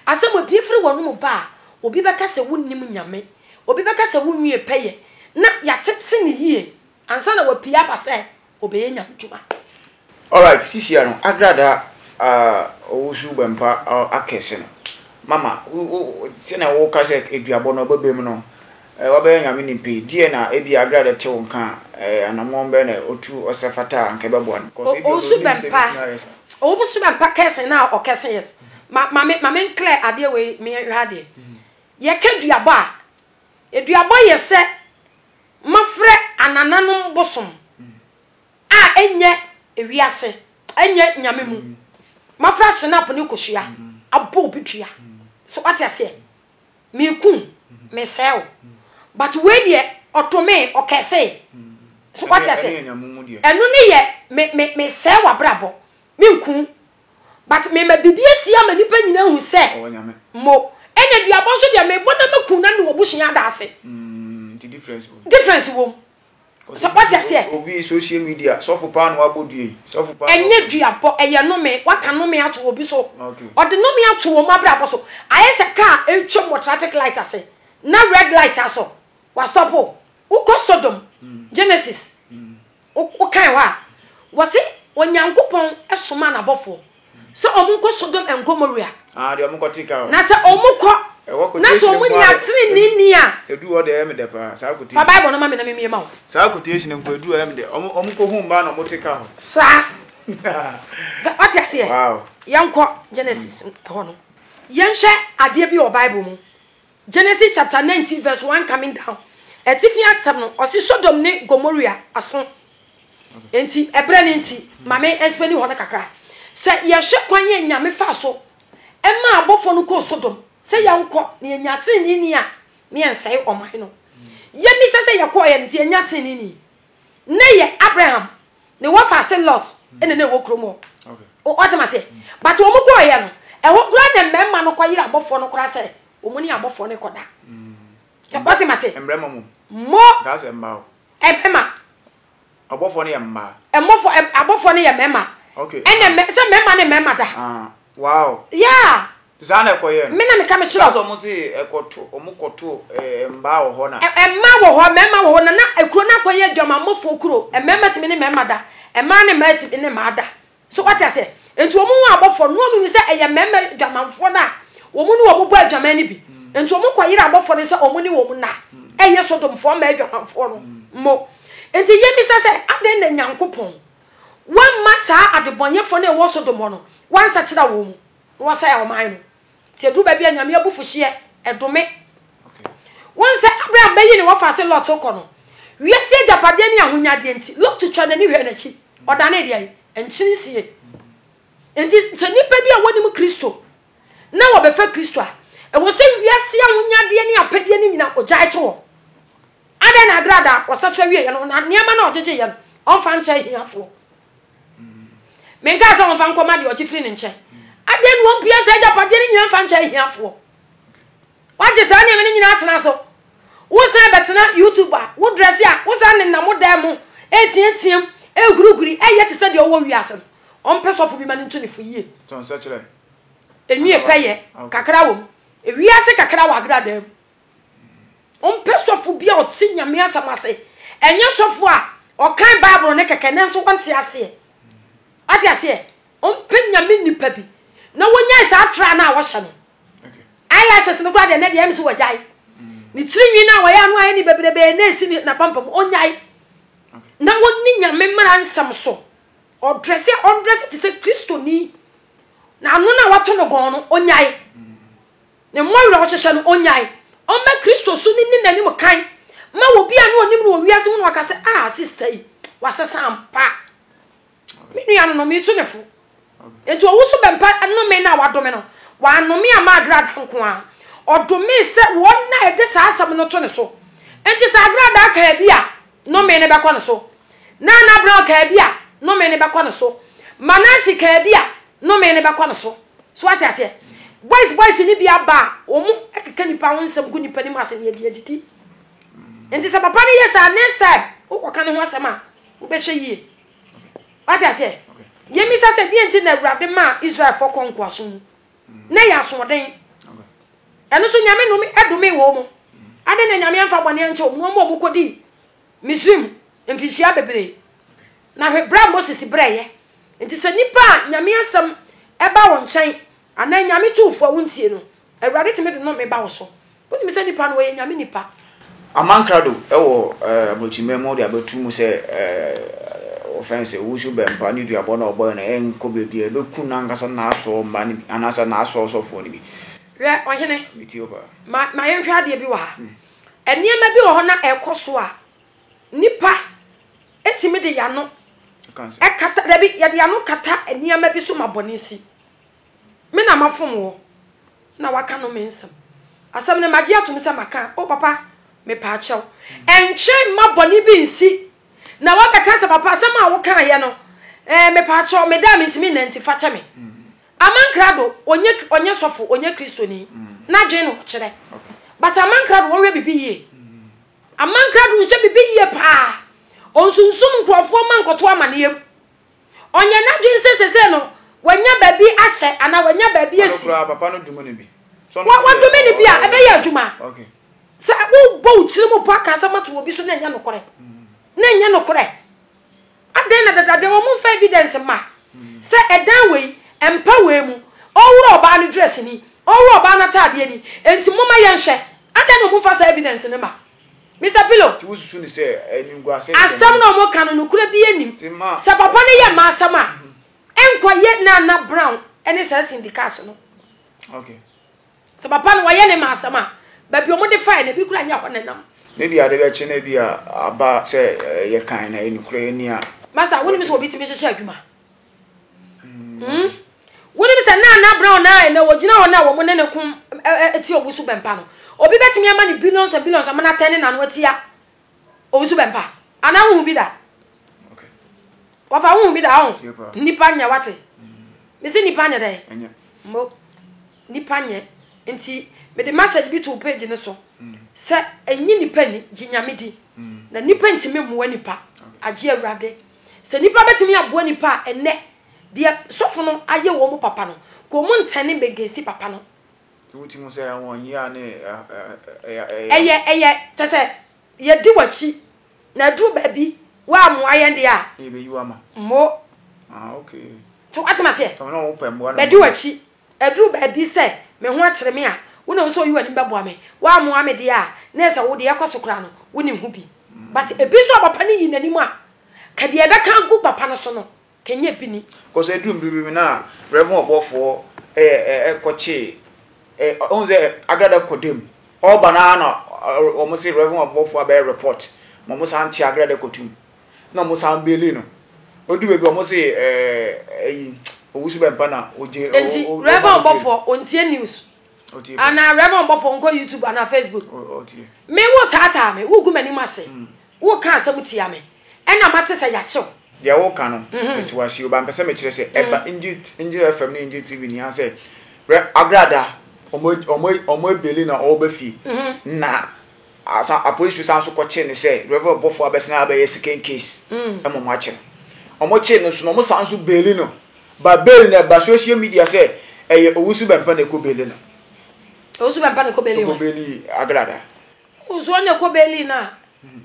a asɛm a bie firi wɔn mu ba a obi bɛka sɛ wonim nyame obi bɛka sɛ wonwie pɛyɛ na yɛatete ne yie Ansa na wapue aba sɛ ɔbɛyɛ nyamedwuma. Alright sisia no agrada a ɔwosu bɛmpa akɛse no mama wo sɛnea woka sɛ aduabɔ no ɔbɛbam no wabɛyɛ nyame nim pii deɛ na ebia agrada te wo nka a anamɔn bɛn na ɔtu ɔsɛ fata a anka ɛbɛboa no cause ebia ɔbɛnim sɛ ɛbɛtumi ayɛ sa. Ɔwosu bɛmpa kɛse no a ɔkɛse yɛ ma ma me ma me nclear adeɛ wei me hwɛ adeɛ yɛka duabɔ a aduabɔ yɛ sɛ Moafrɛ anananom bosom a ɛnyɛ ewiase, ɛnyɛ nyame mu. Moafrɛ asenap ne kosua abɔ obi dua. So wate aseɛ? Mekum, mesɛe wo. But wei deɛ ɔtomee, ɔkɛsee. So wate aseɛ? Ɛno ne yɛ, me, me, mesɛe w'abrabɔ. Menku, But me ma biribi asi ama nipa nyina hu sɛ mo ɛna duabɔ nso deɛ mebɔ na maku na mewɔ busua ada ase difference wom sɛ wate aseɛ obi social media sɔfo paa na wabɔ dua yi sɔfo paa ɛnyɛ duabɔ ɛyɛ nome waka nome ato obi so ɔde nome ato wɔn abrabɔ so ayɛ sɛ kaa ɛretwa mu traffic light ase na red light aso wastɔpo Wokɔ Sodom, Genesis, wokan hɔ a, wɔse Onyankopɔn somaa n'abɔfoɔ sɛ wɔn nkɔ Sodom and Gomorrah. Ah, deɛ wɔn kɔ te ka o. Na sɛ wɔn kɔ, na sɛ wɔn nya tene ne ni a. Edu hɔ deɛ ɛyɛ me dɛ paa, saa kote. Fa Bible no ma me na me mie ma wo. Saa kote ehyina mpo edu ɛyɛ me dɛ, wɔn wɔn kɔ hu mmaa na wɔn te ka hɔ. Saa. Sɛ wate aseɛ. Wow. Yɛn kɔ Genesis hɔ no, yɛn hwɛ adeɛ bi wɔ Bible mu. Genesis chapter nineteen verse one coming down. Atifi asɛm no, ɔse Sodom ne Gomorrah aso. Enti, ɛberɛ no nti, ma me ɛsbɛni hɔ no kakra. Sɛ yɛhwɛ kwan yɛ Nyame faa so ɛma abɔfoɔ no kɔɔ Sodom sɛ yɛnkɔ na yɛnya tenenee ni a, ne yɛnsɛe ɔman no. Yɛn nisɛ sɛ yɛkɔɔeɛ no nti yɛnya tenenee ni. Ne yɛ Abraham ne wɔfa ase Lot ɛna na ɛwɔ kurom hɔ. Ɔte ma seɛ. But wɔn kɔɔ yɛ no. Ɛhɔ kura na mmarima no kɔ yere abɔfoɔ no kora sɛ wɔn ne abɔfoɔ no kɔ da. Sɛ ɔte ma seɛ. Mmarima mu. Mo. Daa sɛ mmaa o. Mmarima. Abɔfoɔ no yɛ mmaa. Mmɔfoɔ abɔfoɔ no yɛ mmarima. Okay. Ɛna sɛ mmarima ne mmarima da. Ah. Wow! Yeah! Saa na ɛkɔ yɛ no. Me na meka me kyerɛ. That's ɔmo se ɛkɔ to ɔmo kɔ to eh, mmaa wɔ hɔ na. Mmaa wɔ hɔ, mmarima wɔ hɔ na na ekuro no akɔ yɛ adwamammɔfoɔ kuro. Mmarima tumi ne mmarima da, mmaa ne mmaa tumi ne mmaa da. So wate aseɛ? Nti wɔn ho abɔfoɔ no wɔn hu sɛ ɛyɛ mmarima adwamanfoɔ no a wɔn ne wɔn bɔ adwaman no bi. Nti wɔn kɔ yere abɔfoɔ no sɛ wɔn ne wɔn na ɛyɛ sodomfoɔ mmaa adwamanfoɔ no mo. Nti yɛn bisa sɛ adɛn na Nyankopɔn. Wamma saa adebɔnyɛfoɔ no a ɛwɔ Sodom hɔ no, wansakyera wɔn mu, na wasɛe ɔman no. Nti ɛduru baabi a Nyame abufuhyeɛ, ɛdome. Wohu sɛ Abraham bɛyi ne wɔfa se Lot kɔ no, wiase agyapadeɛ ne ahonyadeɛ nti, Lot twaa n'ani hwɛɛ n'akyi, ɔdanee deɛn? Nkyene sie. Nti sɛ nnipa bi a wɔnim Kristo na wɔbɛfa Kristo a, ɛwɔ sɛ wiase ahonyadeɛ ne apɛdeɛ no nyina ogyae to hɔ. Adɛn na ɛberɛ a da ɔsɛ so awieɛ no na nneɛma no a ɔgyegyeeɛ no ɔmfa nkyɛ ahiafoɔ? Menkaa sɛ ɔmfa nkɔ ma deɛ ɔgye firi ne nkyɛn. Adɛn na ɔmpia saa agyapadeɛ no nyinaa mfa nkyɛ ahiafoɔ? Wagye saa nneɛma no nyinaa atena so. Wosan bɛtena YouTube a, wo drɛse a, wosan nenam wo dan mu, ɛreteateam, ɛrehurihuri, ɛreyɛ te sɛ deɛ ɔwɔ wiase no. Ɔmpɛ sɔfo bi ma no ntu ne fo yie. Ɛnwie pɛyɛ kakra wɔ mu. Ewiase kakra wɔ agradaa mu. Ɔmpɛ sɔfo bi a ɔte Nyame asɛm ase. Ɛnyɛ sɔfo a ɔkan Bible no kɛkɛ nanso wɔnte aseɛ. Ate aseɛ? Ɔmpɛ Nyame nipa bi na wɔnyae saa tra no a wɔhyɛ no. Eyelashes no koraa deɛ nɛ deɛ ɛm sɛ wɔgyae. Ne tiri nwi no a wɔyɛ ano ayɛ ne bebrebee na ɛsi ne napampa mu ɔnyae. Na wɔnni Nyame mmara nsɛm so. Ɔdrɛse ɔndrɛse te sɛ Kristoni na ano no a wɔato no gɔn no ɔnyae. Ne mma awerɛhohyehyɛ no ɔnnyae. Ɔmma Kristo so no nni n'anim kan ma obi a na ɔnim no wɔ wiase hu no aka sɛ, Ah, sista yi, wasesa ampa. Me nua no no, metu ne fo. Enti ɔwo so bɛmpa nnome no a wadome no. Wannome amma agradaa nko ara. Ɔdomee sɛ wɔn a ɛde saa asɛm no to ne so. Enti sɛ agradaa kaa bi a, Nnome no bɛkɔ ne so. Nana Brown kaa bi a, nnome no bɛkɔ ne so. Ma Nancy kaa bi a, nnome no bɛkɔ ne so. So wate aseɛ? Boys boys no bi aba a, wɔn keka nnipa ho nsɛm gu nnipa no mu ase na yɛde adidi. Nti sɛ papa no yɛ saa, next time wokɔka ne ho asɛm a, wobɛhyɛ yie. Wate aseɛ? Yɛmmisa sɛ deɛ nti na Awurade maa Israelfoɔ kɔ nkoasom mu. Na ɛyɛ asoɔden. Ɛno nso Nyame nom domee wɔn mu. Adɛn na Nyame amfa bɔne ankyɛ wɔn, wɔn a wɔkɔdii Misraim mfinhyia bebree? Na hwɛ, berɛ a Moses brɛeɛ. Nti sɛ nnipa a Nyame asɛm ba wo nkyɛn, anaa Nyame tu wo fo a wontie no, Awurade tumi de nome ba wo so. Wonim sɛ nnipa no, wɔyɛ Nyame nnipa. Aman krado wɔ aburokyiman mu de abɛto mu sɛ wɔfrɛ no sɛ owusu bɛmpa ne duabɔ no a ɔbɔeɛ no ɛnkɔ baabiara, ɛbɛku n'ankasa n'asoɔ mma no bi anaasɛ n'asoɔ ɔsɔfoɔ no bi. Hwɛ, ɔhene, ma, ma yɛnhwɛ adeɛ bi wɔ ha. Nneɛma bi wɔ hɔ na ɛrekɔ so a, nnipa tumi de yano kata, dabi, yɛde yano kata nneɛma bi so ma bɔne si. Me na mafom wo, na waka no me nsɛm. Asɛm no magye atom sɛ maka, o papa, mepaakyɛw. Ɛnkyerɛ mma bɔne bi nsi, na wabɛka sɛ papa asɛm a wokaeɛ no, eh, mepaakyɛw, meda a mentumi nna nti fakyɛ me. Amankrado, ɔnyɛ, ɔnyɛ sɔfo, ɔnyɛ Kristoni, n'adwene na ɔkyerɛ. But amankrado, wɔnhwɛ biribi yie. Amankrado nhyɛ biribi yie paa. Ɔnsunsum nkurɔfoɔ ma nkɔto amanneɛm. Ɔnyɛ n'adwene sɛ sesei no wanya baabi ahyɛ anaa wanya baabi asi. Wa, wadome no bi a, ɛbɛyɛ adwuma. Sɛ wobɔ wo tiri mu bɔ aka asɛm ato obi so na ɛnyɛ nokorɛ, na ɛnyɛ nokorɛ. Adɛn na dada deɛ wɔn mfa evidence mma sɛ ɛdan wei, ɛmpa wei mu, ɔwura ɔbaa no dress ni, ɔwura ɔbaa no ataadeɛ ni, enti momma yɛnhwɛ. Adɛn na wɔn mfa saa evidence no mma? Mister Pillow. Nti wosusu no sɛ animguase nsɛm. Asɛm no a wɔka no nokorɛ biara nnim. Sɛ papa no yɛ mma asɛm a, ɛnkɔ yɛ Nana Brown ne saa Cindy Cash no. Okay. Sɛ papa no wɔyɛ ne mma asɛm a, baabi a wɔde faeɛ no ebi kura nyɛ hɔ na nam. Ne bi ade bɛkye na ebi a aba sɛ yɛ kan na yɛ nokorɛ ni a. Master, wonim sɛ obi tumi hyehyɛ adwuma? Hmm? Wonim sɛ na Anna Brown na ɛnɛ wɔgyina hɔ no a wɔn ne ne ko ti owusu bɛmpa no. Obi bɛtumi ama ne billions and billions ama n'atɛn ne n'ano atia owusu bɛmpa. Anaa wohu bi da? Wɔfa wohu bi da ho? Nnipa nyɛ wate. Mesi nnipa nyɛ dɛn? Mo nnipa nyɛ. Nti mede message bi to page no so sɛ ɛnyi nnipa ni gye nyame di na nnipa ntumi mmoa nnipa agye awurade. Sɛ nnipa bɛtumi aboa nnipa a ɛnnɛ deɛ sɔfo no ayɛ wɔn papa no, kɔ wɔn nkyɛn ne bɛgesi papa no. Sɛ wotumi hu sɛ wɔn yea a ne ɛyɛ. Ɛyɛ kyɛ sɛ yɛdi w'akyi na aduru baabi woammoa yɛn deɛ a. Ne yɛbɛyi wo ama. Mmo. Ah okay. So wate m'aseɛ? Sɛ wɔn na wɔpɛ mmoa na. Bɛdi w'akyi Ɛduru baabi sɛ me ho akyere me a, wonim nso woyi w'anim bɛboa me. Woammoa me deɛ a, na ɛsɛ wo deɛ ɛkɔ so koraa no, wonim ho bi. But ebi nso a papa no yi n'anim a, ka deɛ ɛbɛka agu papa no so no, ka ɛnyɛ ebi ni. Kɔsɛ ɛduru mmere bi mu na Rev. Ɔbɔfoɔ kɔkyee, wohu sɛ Agrada kɔ dam, ɔreba no ara na wɔn se Rev. Ɔbɔfoɔ abɛyɛ report ma wɔn san kye Agrada kɔto mu. na ɔmo san beeli no odu baabi ɔmo se ɛɛ ɛyi owusu bɛ mpa na ogye o enti rɛbɛn ɔbɔfo ontie news ana rɛbɛn ɔbɔfo nkɔ youtube ana facebook me wo taataa me wo gu m'anim ase hmm. wo ka asɛm tia me ɛna ma te sɛ yakyew deɛ wo ka no mhm. mete wase o ba mpɛ sɛ mekyerɛ sɛ hmm. ɛba ngye fm ne ngye tv nia sɛ agrada ɔmo ɔmo ɔmo ebeli na ɔmo bɛ fie mhm. na Asan apolisifo san nso kɔkyere no sɛ Rev. Ɔbɔfo abɛsan abɛyɛ second case ma wɔakye no. Wɔkyere no nso no, wɔsan nso beeli no. But bail no ɛba social media sɛ ɛyɛ Owusu Bɛmpa na ɛkɔ beeli no. Owusu Bɛmpa na ɛkɔ beeli wɔn? Ɛkɔ beeli Agrada. Oh, so ɔno na ɛkɔ beeli no a.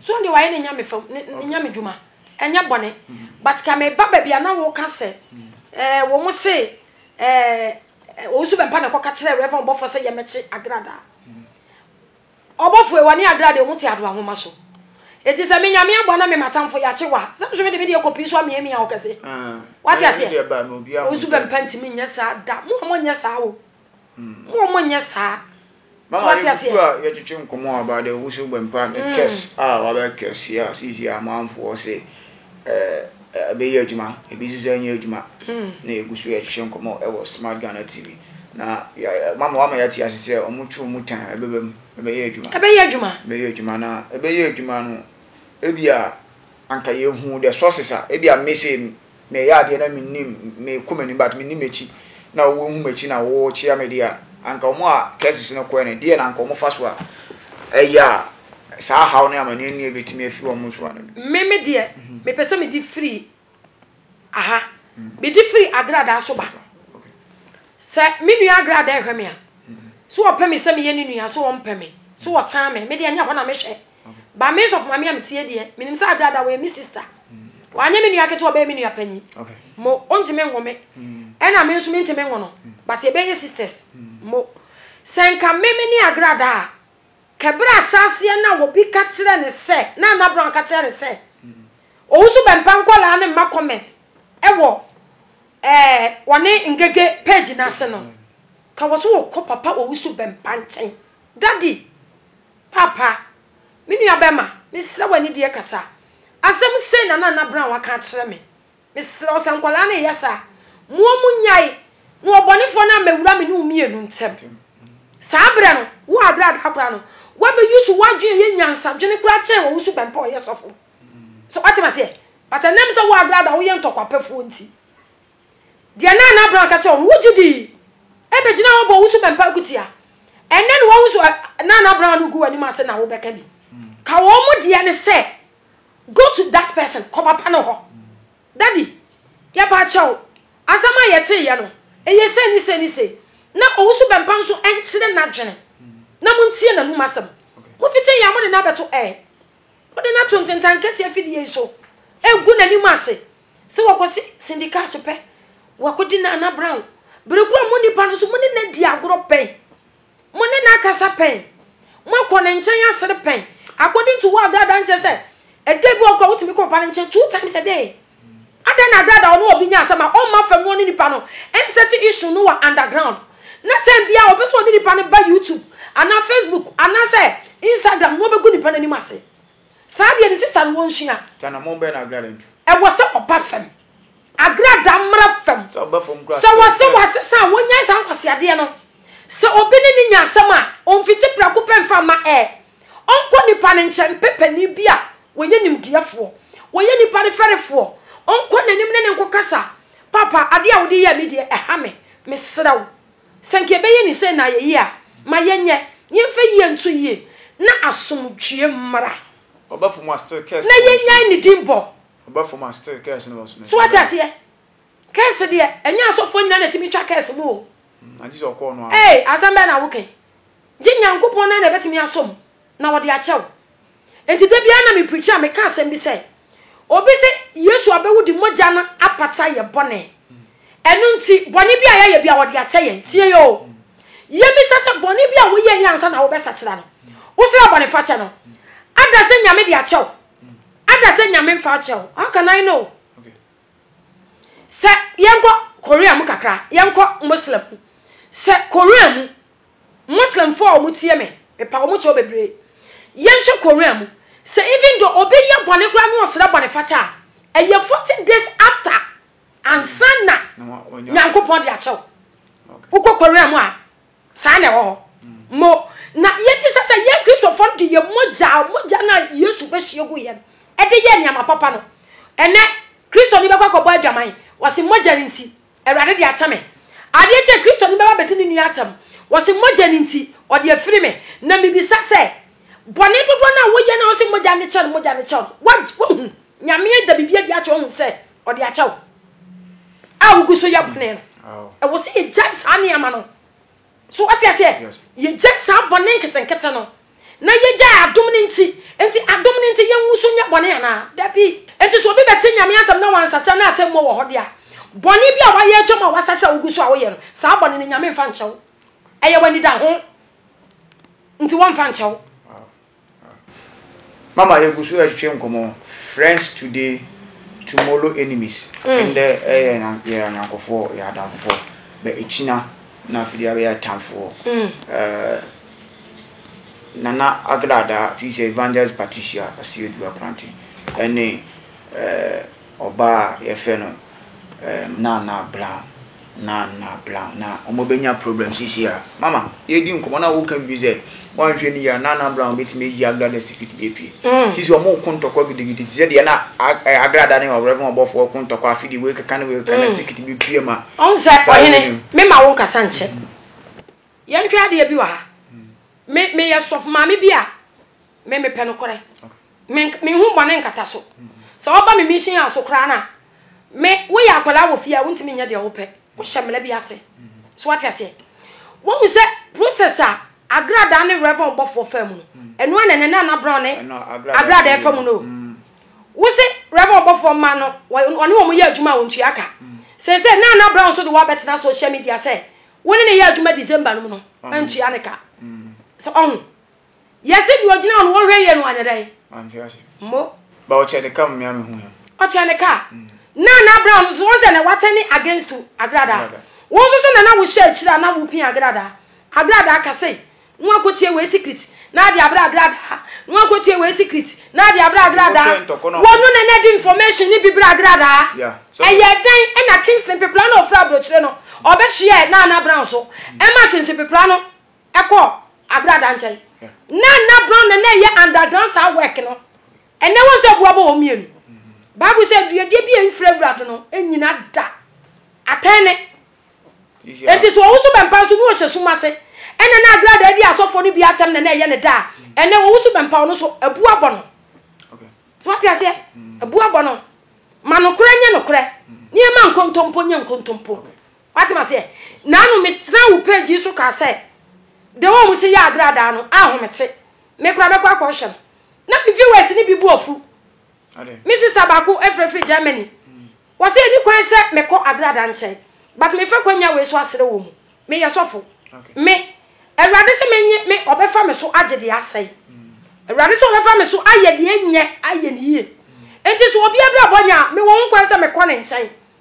So ɔno deɛ wayɛ ne nyame fam, ne nyame dwuma. Ɛnyɛ bɔne. But ka meba baabi a na woka sɛ eh, wɔn se eh, Owusu Bɛmpa na ɛkɔka kyerɛ Rev. Ɔbɔfo sɛ yɛmmɛkye Agrada. Ɔbɔfoe, wɔne adraa deɛ wɔte adra nwoma so. Enti sɛ me Nyame aboa na me m'atamfo yakye wa, sɛ nso mede me deɛ kɔpii so amiamia wo kɛse. Wate aseɛ? Wo nso bɛmpa ntumi nyɛ saa da. Mo a monyɛ saa o. Mo a monyɛ saa. So wate aseɛ? Mama yɛbutu a yɛtwetwe nkɔmmɔ about the wusiw bɛmpa ne curse a wabɛ curse yɛ a seesei amanfoɔ se ɛbɛyɛ adwuma, ebi nso so nyɛ adwuma, na yɛgu so yɛhwehwɛ nkɔmmɔ wɔ Smart Ghana TV. Na mama wama yɛate ase sɛ wɔn tu wɔn tan ɛbɛba mu, ɛbɛyɛ adwuma. Ɛbɛyɛ adwuma. Ɛbɛyɛ adwuma na ɛbɛyɛ adwuma no, ebi a anka yɛhu the sources a, ebi a mese na ɛyɛ adeɛ na menim, mekɔ m'anim but menim m'akyi na wɔhu m'akyi na wɔkyea me deɛ a, anka wɔn a cases no kɔɛ no, deɛ na anka wɔn fa so a ɛyɛ a Saa haw ne amanneɛ nni a ebetumi afi wɔn nsoa no de. Me me deɛ, mepɛ sɛ mede firi aha. Mede firi agradaa so ba. Sɛ me nua agradaa ɛhwɛ me a, so ɔpɛ me sɛ meyɛ ne nua so ɔmpɛ me so ɔtan me. Me deɛ nyɛ hɔ na mehwɛ. Ba me sɔfo maame a metie deɛ, menim sɛ agradaa wɔyɛ me sista. Wanyɛ me nua ketewa ɔbɛyɛ me nua panyin. Mo ɔntumi nwo me. Ɛna me nso mentumi nwo no. But yɛbɛyɛ sisters. Mo. Sɛ nka me me ne agradaa a, Kɛ berɛ a ahyɛaseɛ no a obi ka kyerɛ no sɛ, na Anna Brown ka kyerɛ no sɛ, ɔwusu bɛmpa nkwadaa no mma comment wɔ ɛɛ wɔne ngege page no ase no, ka wɔ so wɔkɔ papa ɔwusu bɛmpa nkyɛn. Daddy, papa, me nua bɛma, mesrɛ w'anideɛ kasa. Asɛm sei na na Anna Brown aka akyerɛ me. Mesrɛ wo, sɛ nkwadaa no reyɛ saa a, moa mu nyae, na ɔbɔnefoɔ no ammɛwura me ne wo mmienu ntam. Saa berɛ no, wo a berɛ a daa koraa no, woabɛyusu w'adwene yɛ nyansadwene koraa kyɛn wɔ wo suban pa a ɔyɛ sɔfo. So woate m'aseɛ? But ɛnam sɛ wo a berɛ a daa woyɛ ntɔkwapɛfoɔ nti, deɛ na Nana Brown ka kyerɛ wo no, wogye dii. Ɛbɛgyinaa hɔ bɔɔ wo suban pa akutia. Ɛnnɛ na woahu so a, Nana Brown no gu w'anim ase na wobɛka bi. Ka wɔn deɛ no sɛ. Go to that person, kɔ papa no hɔ. Daddy, yɛpa kyɛw, asɛm a yɛtee yɛ no, ɛyɛ sei ne sei ne sei. Na Owusu Bɛmpa nso nkyerɛ n'adwene. Na mo ntie n'anum asɛm. Mo fiti yɛ a mo de no abɛto ɛɛ. Mo de no ato ntentan kɛseɛ fidie yi so. Ɛgu n'anim ase. Sɛ wɔkɔ se Cindy Cash pɛ, wɔakɔdi Nana Brown. Bere koro a mo nipa no nso mo ne no adi agorɔ bɛn. Mo ne no akasa pɛn? Moakɔ ne nkyɛn asere pɛn? According to wo abrada nkyɛ sɛ ɛda bi ɔkɔ a wotumi kɔ papa no nkyɛn two times a day. Adɛn na abrada ɔne obi nya asɛm a ɔmma fam na ɔne nipa no nsɛte issue no wɔ underground na time biara ɔpɛ sɛ ɔne nipa no ba YouTube anaa Facebook anaasɛ Instagram na ɔbɛgu nipa no anim ase. Saa deɛ ne sister no wɔ nhyia. Tanamon bɛn na agrada ntu. Ɛwɔ sɛ ɔba fam. Agrada mmra fam. Sɛ ɔba fam koraa a sɛ ɔsɛ. Sɛ wɔse wɔasesa a wɔnyae saa nkwaseadeɛ no. Sɛ obi ne no nya asɛm a, ɔmfiti prɛko pɛ mfa mma ɛ. Ɔnkɔ nipa no nkyɛn mpɛ panin bi a ɔyɛ nimdeɛfoɔ, ɔyɛ nipa no fɛrefoɔ, ɔnkɔ n'anim ne no nkɔkasa, Papa, adeɛ a wode yɛɛ me deɛ, ɛha me. Mesrɛ wo. Sɛ nka yɛbɛyɛ ne sei na ayɛ yie a, ma yɛnyɛ, na yɛmfa yie nto yie, na asomdwoeɛ mmra, na yɛnnyae ne din bɔ. So woate aseɛ? Kɛɛse deɛ, ɛnyɛ asɔfoɔ nyinaa na ɛtumi twa kɛɛse mu o. Ee, asɛm bɛn na woka yi? Gye Nyankopɔn na na ɛbɛtumi asom. na wɔde akyɛ wo. Enti da biara na me preachi a meka asɛm bi sɛ, obi se Yesu abɛwu de mogya no apata yɛ bɔne. Ɛno nti bɔne bi a yɛayɛ bi a wɔde akyɛ yɛn. Tie oo. Yɛbisa sɛ bɔne bi a woyɛ yɛ ansa na wobɛsakyera no, wosra bɔne fakyɛ no, ada sɛ Nyame de akyɛ wo. Ada sɛ Nyame mfa akyɛ wo. How can I know? Sɛ yɛnkɔ Korea mu kakra, yɛnkɔ Muslim mu. Sɛ Korea mu, Muslim foɔ a ɔmo tie me mepa ɔmo kyɛw bebree yɛn hwɛ Korea mu sɛ even though obi yɛ bɔne koraa na ɔsrɛ bɔne fakyɛ a ɛyɛ forty days after ansa na Nyankopɔn de akyɛw wokɔ Korea mu a saa na ɛwɔ hɔ mo na yɛn bisa sɛ yɛn Kristofoɔ no de yɛ mogya mogya na Yesu bɛhyɛ gu yɛn ɛde yɛ nneɛma papa no ɛnɛ Kristo ni bɛkɔ akɔbɔ adwaman wɔsi mogya nti Awurade de akyɛ me. Adeɛ nti a Kristoni bɛba abɛdi ne nua atɛm? Wɔse mogya no nti, ɔde afiri me. Na mebisa sɛ, bɔne dodoɔ no a woyɛ no a wose mogya no kyɛ no, mogya no kyɛ no? Wagye, woahu, Nyame ada biribi adi akyerɛ wo, woahu sɛ ɔde akyɛ wo a wogu so yɛ bɔne no. Ɛwɔ sɛ yɛgyae saa nneɛma no. So wate aseɛ? Yɛgya saa bɔne nketenkete no na yɛgyae adom no nti. Nti adom no nti yɛnwu so nyɛ bɔne anaa? Dabi. Nti sɛ obi bɛte Nyame asɛm na wansakyera na atɛmmuo wɔ hɔ de a, bɔne bi a wayɛ atwam a wasakyera a wogu so a woyɛ no, saa bɔne no Nyame mfa nkyɛ wo. Ɛyɛ w'anidaho nti wɔmfa nkyɛ wo. Mama yɛgu so retwetwe nkɔmmɔ Friends today, tomorrow enemies. Ndɛ yɛ yɛ anyɔnkofoɔ, yɛ adamfofoɔ, bɛ ekyina na afei deɛ abɛyɛ atamfoɔ. Nana Agradaa, ti sɛ Evangelist Patricia Asiedu Akorante, ɛne Ɔbaa a yɛfrɛ no ɛɛm Nana Brown, Nana Brown, na wɔn bɛnya problem sisi a. Mama, yɛredi nkɔmɔ na woka biribi sɛ, woanhwɛ no yie a, Nana Brown bɛtumi ayi Agra da secret bi apue. Mm. Sisi wɔn reko ntɔkwa gidigidi te sɛ deɛ na Agra da ne ɔwerɛfo ɔbɔfoɔ reko ntɔkwa afe deɛ wɔrekeka ne wɔrekeka na mm. secret bi pue ma. Ɔn sɛ ɔhene, mema wo nkasa nkyɛ. Mm. Yɛnhwɛ adeɛ bi wɔ ha. Mm. Me meyɛ sɔfo maame bi a Me me pɛ nokorɛ. Me me hu bɔne nkata so. Sɛ wɔba me mission a so koraa na me woyɛ akwadaa wɔ fie a wontumi nyɛ deɛ wopɛ. Wohyɛ mmara bi ase. So wate aseɛ? Wɔhu sɛ process a agradaa ne reverend ɔbɔfoɔ faa mu no ɛno ara na ɛnɛ Nana Brown ne agradaa fa mu no. Wose reverend ɔbɔfoɔ mma no ɔne wɔn yɛ adwuma a wɔntua ka. Sɛ sɛ Nana Brown so de wɔabɛtena social media sɛ wo ne ne yɛ adwuma December no mu no ɛntua ne ka. So ɔho. Yɛse deɛ ɔgyina hɔ no wɔhwɛ yie no anyɛ dɛn? Manhwɛ ase. Mo. Ba ɔkyɛ ne ka mmea mehu yɛ. Ɔkyɛ ne ka. Mm. Na na abira no so wɔn sɛ na watɛne against to agrada. Wɔn nso so na na wohyɛ akyire a na wopin agrada. Agrada ka sɛ no akotie wei secret na adi abira agrada. No akotie wei secret na adi abira agrada. Wɔn no na na di information ni bi bira agrada. Ɛyɛ dɛn ɛna Kingston pepla na ofura brokyire no ɔbɛhyeɛ na na abira nso. Ɛma Kingston pepla no. Ɛkɔ Abrada nkyɛn. Na na Brown na na ɛyɛ underground saa work no. Ɛnɛ wɔn sɛ boa bɔ wɔn mmienu. Bible sɛ duadua bi a ɛmfiri awura do no nyina da. Atɛn ne. Enti so ɔwoso bɛmpa nso na ɔhyɛ sum ase. Ɛna na Abrada adi asɔfoɔ no bi atɛm na na ɛyɛ ne da a ɛnɛ ɔwoso bɛmpa ɔno so abua bɔ no. So wate aseɛ? Abua bɔ no. Ma nokorɛ nyɛ nokorɛ. Nneɛma nkontompo nyɛ nkontompo. Wate maseɛ? Naano me tenaa wo page yi so kaa sɛ deɛ ɔmo se yɛ agradaa no ahomete. Me koraa mɛkɔ akɔ hyɛ no. Na me viewers ne bi bu afu. Me sister baako efre firi Germany. Mm. Wɔse ɛni kwan sɛ mekɔ agradaa nkyɛn. But me fa kwanya wei so asere wɔ mu. Me yɛ sɔfo. Okay. Me. Awurade se menye me ɔbɛfa me so agye deɛ asɛe. Mm. Awurade se ɔbɛfa me so ayɛ deɛ nyɛ ayɛ ne yie. Mm. Enti so obi abirabɔ nya me wɔ ho kwan sɛ mekɔ ne nkyɛn.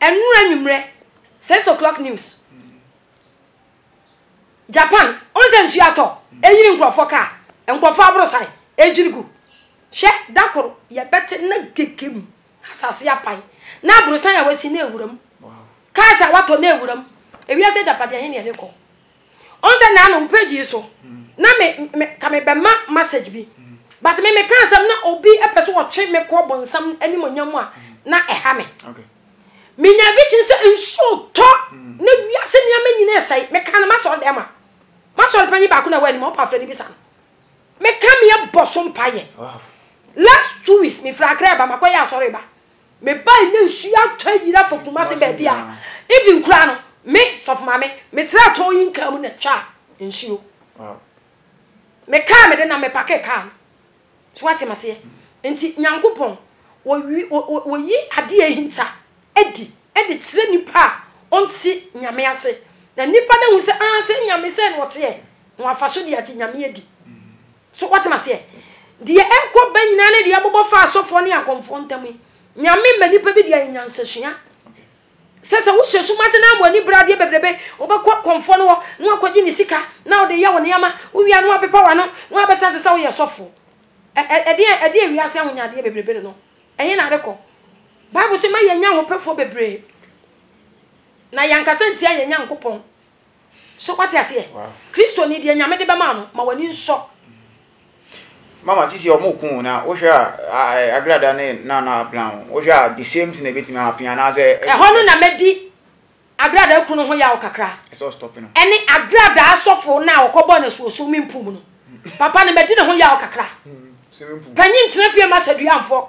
Ɛnora anwummerɛ, six o'clock news. Japan, ɔn sɛ nsuo atɔ, ɛyiri nkurɔfoɔ kaa, nkurɔfoɔ aborosan, ɛgyiri gu. Hwɛ, da koro, yɛbɛte na gegem, asase apae, na aborosan a wasi na ɛwura mu. Cars a watɔ na ɛwura mu. Ewiase agyapadeɛ, ɛhe na yɛde kɔ? ɔn sɛ naa na wo page yi so na me me ka me bɛ ma message bi but me me ka asɛm na obi ɛpɛ so ɔkye me kɔ bonsam anim onyam mu a na ɛha me me nya vision sɛ nsuo tɔ na wiase nneɛma nyina ɛsɛe me ka no ma sɔre dɛm a ma sɔre panyin baako na ɛwɔ anim ɔpa afrɛ no bi sa no me ka me ɛbɔ so mpa yɛ last two weeks me fira akra ɛba makɔ yɛ asɔre ba Me bae na nsu atɔ ayira fa Kumase baabi a even kura no me sɔfo maame me tra tɔn yi nkaa mu na twa nsuo. Me kaa me de na me pake kaa no. So wate maseɛ. Nti Nyankopɔn wɔyi adeɛ ahinta adi de kyerɛ nipa a ɔnte nyame ase na nipa no ahu sɛ aa sɛ nyame sɛ na ɔteɛ na wafa so de agye nyame adi. So woate m'aseɛ? Deɛ ɛkɔ ba nyinaa ne deɛ ɛbobɔ fa asɔfoɔ ne akɔmfoɔ ntam yi. Nyame mma nipa bi deɛ yɛ nyansasua. Sɛ sɛ wohyɛ sum ase na ama ani bradeɛ bebrebe, wobɛkɔ kɔmfoɔ no hɔ na wakɔgye ne sika na wode yɛ wo nneɛma, wowia no wapepa w'ano na wabɛsa sɛ sɛ woyɛ sɔfoɔ. Ɛdeɛ ɛdeɛ wiase ahonyadeɛ bebrebe no no, ɛhe na adekɔ? Bible sɛ ma yɛnya ahopɛfoɔ bebree na yɛnkasa ntia yɛn Nyankopɔn. So wate aseɛ? Kristo ni deɛ Nyame de bɛma no ma w'ani nsɔ. Mama sisi ɔmo kun na wohwɛ a agrada ne nana plan ho wohwɛ a the same thing na ebetumi ahapin anaasɛ. Ɛhɔ no na mɛdi agradaa kunu ho yaw kakra ɛne agradaa asɔfo na ɔkɔ bɔ na suo swimming pool mu no papa no mɛdi ne ho yaw kakra panyin tena fie ma sadua mfɔ.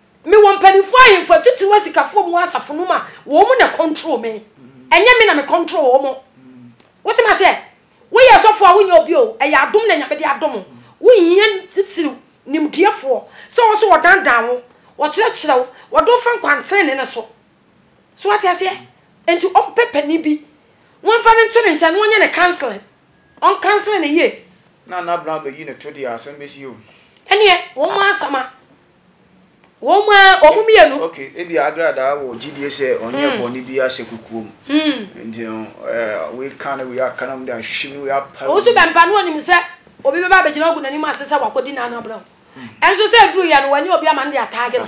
Me wɔ mpaninfoɔ ahemfo atitiriw asikafoɔ mu wɔ asafo no mu a wɔn mu na control me ɛnyɛ me na me control wɔn mo wote ma seɛ woyɛ asɔfoɔ a wonyɛ obi o ɛyɛ adom na nyame de adom o wohia titiriw nimdeɛfoɔ sɛ wɔn so wɔdandan wo wɔkyerɛkyerɛ wo wɔde wofa nkwantene ne ne so so wate aseɛ nti ɔmpɛ panin bi wɔmfa no nto ne nkyɛn na wɔnyɛ ne counseling ɔn counseling ne yie na na brown bɛyi ne to deɛ asɛm bɛsi o ɛneɛ wɔn asɛm a Wɔn a wɔn mmienu. Okay, ebi agradaa wɔ gyidie sɛ ɔnyɛ hmm. bɔne bi ahyɛ kukuo mu. Hmm. Nti no, eh, wei ka no wei aka no de ahwehwɛ mu wei apa. Wɔn nso bɛmpa no wɔnim sɛ obi bɛba abɛgyina ogu n'anim ase sɛ wakɔdi n'ano abena ho. Ɛnso hmm. sɛ aduru yɛ no wɔnyɛ obi ama no de ataage no.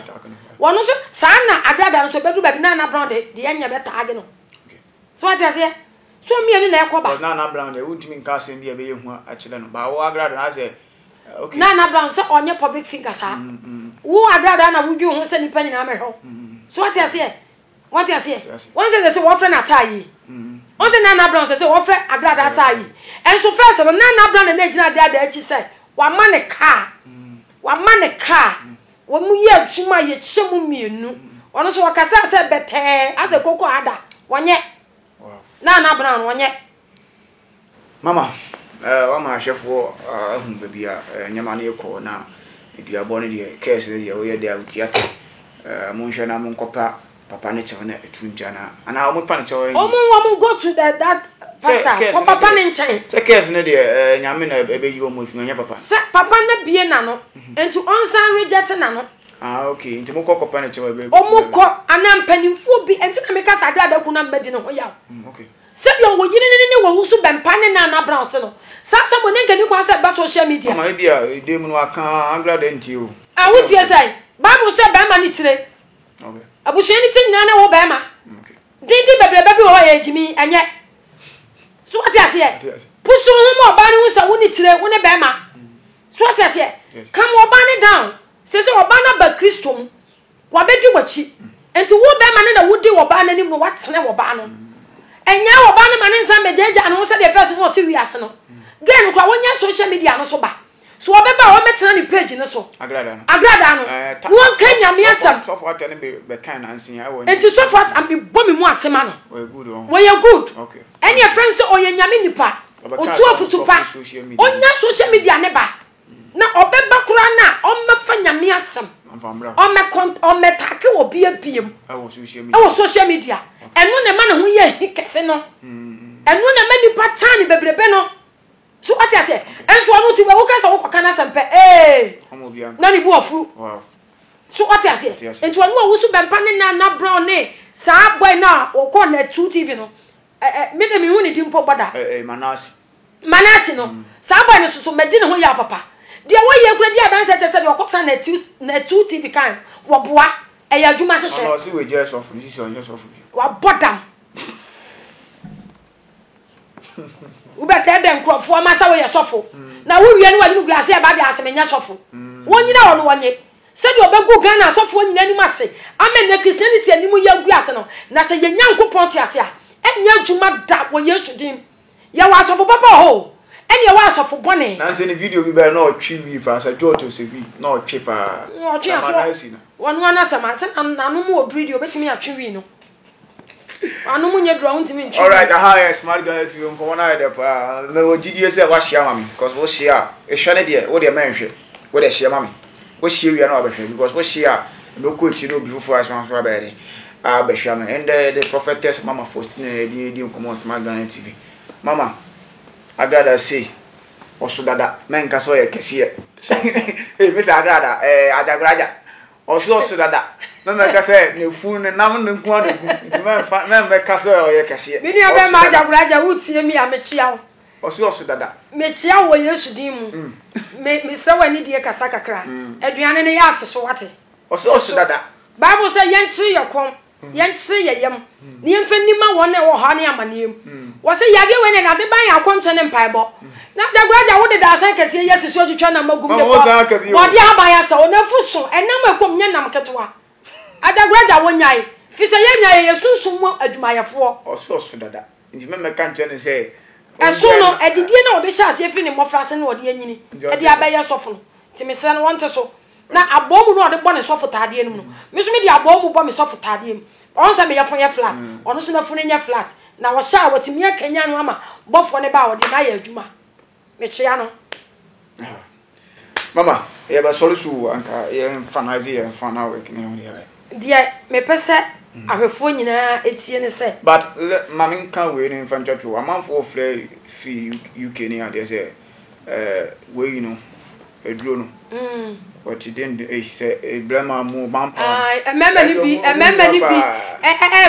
Wɔn nso saa na agradaa no nso bɛduru baabi na anabena de deɛ nyɛ bɛtaage no. So wate aseɛ? So mmienu na ɛkɔ ba. Nana Brown deɛ wontumi nka asɛm bi a ɛbɛyɛ hu akyerɛ no baa wo agrado na asɛ okay. Nana Brown sɛ ɔnyɛ public figure saa. Mm, mm. Wo agrado na wodwen ho sɛ nipa nyinaa mɛhwɛ wo. Mm. So wate aseɛ? Wate aseɛ? Wɔn sɛ sɛ wɔfrɛ no ataa yi. Mm. Wɔn sɛ Nana Brown sɛ sɛ wɔfrɛ agrado ataa yi. Ɛnso fɛs no Nana Brown na ɛgyina agrado akyi sɛ wama ne kaa. Mm. Wama ne kaa. Mm. Wɔyɛ adwuma a yɛkyɛ mu mmienu. Ɔno nso ɔkasaa sɛ bɛtɛɛ asɛ koko ada. Wɔnyɛ. Na ana abena no wɔnyɛ. Mama, eh, wama ahwɛfoɔ ah, ahu baabi a eh, nneɛma no rekɔ na aduabɔ no deɛ, kɛɛs no deɛ, woyɛ dɛ a wotiatia. Eh, monhwɛ na monkɔpa Papa ne kyɛw na etu ntwa na ana wɔn pa ne kyɛw ɛnyɛ. Wɔn wɔn go to the that pastor kɔ papa ne nkyɛn. Sɛ kɛs ne deɛ ɛɛ nyame na ɛbɛ yi wɔn efi na ɔnyɛ papa. Sɛ papa ne bie na no mhm. nti ɔnsan reject na no. Ah okay nti mo kɔ kɔ pa ne kyɛw ɛbɛ. Wɔn kɔ ana mpanimfoɔ bi nti na mi kasa adi adakun na mbɛ di ne ho yaw. Mm, okay. Sɛdeɛ wɔ yiri ne ne wɔn ho so bɛn pa ne nan na brown te no saa sɛ mo ne nkani kwan sɛ ɛba social media. Ɔmɔ ebi a ede mu no aka angra de nti o. Awo tie sɛ baabu sɛ bɛrima ne tire. Abusua no ti nyinaa ne wo bɛrima. Dindin bebrebe bi wɔ hɔ a yɛ gyimi ɛnyɛ. So wate aseɛ? Pusu ho ma ɔbaa no hu sɛ wo ne tire, wo ne bɛrima. So wate aseɛ? Come ɔbaa no down. Sɛ sɛ ɔbaa no aba Kristo mu, wabɛdi w'akyi. Nti wo bɛrima no na wodi ɔbaa no anim no, watene ɔbaa no. Ɛnyɛ ɔbaa no ma ne nsa mmɛgyaagyaa ne ho sɛdeɛ fɛs no ɔte wiase no. Gay no kora, wonyɛ social media no so ba. So wɔbɛba a wɔmmɛtena ne page no so? Agradaa no. Agradaa no. Eh, ta- Wɔnka Nyame asɛm. Sɔfo- Sɔfo atɛ no be- bɛkan nanse a, ɛwɔ- Enti sɔfo as- am- bɔ me mu ase ma no. Ɔyɛ good wɔn. Wɔyɛ good. Okay. Ɛne ɛfrɛ no sɛ ɔyɛ Nyame nipa. Ɔbɛka Ɔtu asɛm afotu wɔ pa. social media. Ɔnya social media ne ba. Na ɔbɛba koraa no a ɔmmɛfa Nyame asɛm. Ɔmfa mmra hɔ. Ɔmmɛ kɔnt- ɔmmɛtake wɔ bia biam Ɛwɔ social media. ɛwɔ social media. Ɛno na ɛma ne ho yɛ ahi kɛse no. Ɛno na ɛma nipa tan ne bebrebe no. So wate aseɛ? Nso ɔno nti woka sɛ wokɔka no asɛm pɛ ee na ne bu afuru. So wate aseɛ? Nti ɔno a wosu bɛmpa ne na na brown ne saa boy no a wɔkɔ na two tv no me de mehu ne di mpo bɔda manase no saa boy no soso madi ne ho yɛ papa deɛ wɔyɛ kura di adanse kyɛ sɛ deɛ ɔkɔ sa na two tv kan wɔboa ɛyɛ adwuma hyehyɛ wabɔ dam wobɛtɛ dɛ nkurɔfoɔ ma sɛ woyɛ sɔfo na wowie no wɔde no wiase ɛba de ase menyɛ sɔfo wɔnyina hɔ no wɔnye sɛdeɛ ɔbɛgu ghana asɔfoɔ nyina anim ase ama nnɛ christianity anim yɛ agu ase no na sɛ yɛ nyankopɔn te ase a ɛnyɛ adwuma da wɔ yesu din yɛwɔ asɔfo papa wɔ hɔ o ɛne ɛwɔ asɔfo bɔne nanse ne video bi bɛyɛ na ɔtwe wi paa sɛ george osebi na ɔtwe paa ɔtwe aso wɔnoa no asɛm ase nanom wɔ biri deɛ ɔbɛtumi atwe wi no Ano mu nyɛ duru a wontumi ntwe. Alright, aha yɛ Smart Ghana TV nkɔmɔ no ayɛ dɛ paa. Mewɔ gyidie sɛ woahyia ma me cause wohyia a ehwɛ ne deɛ wo deɛ mɛnhwɛ wo deɛ hyia ma me. Wohyia wie a na wabɛhwɛ because wohyia a mɛkɔ akyiri na obi foforɔ a ɛsoma nso abɛyɛ dɛ abɛhwɛ ama me. Ɛndɛ yɛde Prophetess Mama Faustina na yɛde redi nkɔmɔ wɔ Smart Ghana TV. Mama, Agradaa sei ɔso dada mɛnka sɛ ɔyɛ kɛseɛ. Ei, me sɛ Agradaa, ɛɛ Agya Graja. Ɔse ɔse dada na mɛka sɛ nefunu ne nam no nko ara gu nti mɛmfa mɛmɛka sɛ ɔyɛ kɛseɛ. Me nua bɛma Agyagora agya wotie me a mekyea wo. Ɔse ɔse dada. Mekyea wo wɔ Yesu din mu. Me mesrɛ wo anidie kasa kakra. Aduane no yɛ ate so wate. Ɔse ɔse dada. Bible sɛ yɛnkyere yɛ kɔm. yɛnkyere yɛn yam na yɛmfa nni ma wɔn a ɛwɔ hɔ ne amanneɛ mu. Hmm. Wɔ sɛ yadeɛ wei na ade ban yɛ akɔnkyɛ ne mpaebɔ. Hmm. Na dagora gya wode daasan kɛseɛ yɛ sisi otwitwa nam agum ne bɔ wɔde aban asɛ wo nafu so ɛnam ɛkɔm nyɛ nam ketewa. Adagora gya wɔnyae fi sɛ yɛnya yɛ yɛ sunsum mu adwumayɛfoɔ. Ɔso ɔso dada nti mɛmɛka nkyɛn ne sɛ ɛso no adidie na wɔde hyɛ aseɛ firi ne mmɔfra ase na wɔde anyini ɛde abɛyɛ sɔfo no nti mesrɛ no wɔnte so Na abɔɔmu no ɔde bɔ ne sɔfotaadeɛ no mu no me nso mede abɔɔmu bɔ me sɔfotaadeɛ mu ɔn sɛ me yɛfo yɛ flat mm. ɔno nso nafo no nyɛ flat na ɔhyɛ a wɔtumi akanya no ama bɔfoɔ no ba a ɔde no ayɛ adwuma mekyea no ah. mama yɛbɛsɔre so wɔ anka yɛmfa no ase yɛmfa no awɛk ne ho yɛ deɛ mepɛ sɛ mm. ahwɛfoɔ nyinaa ɛtie ne sɛ but ma menka wei no mfa ntwatwo amanfoɔ frɛ fi uk ne adeɛ sɛ Eh wei no aduro no ɔte den de eh sɛ eh, bɛrima mu bampa mmarima no bi mmarima no bi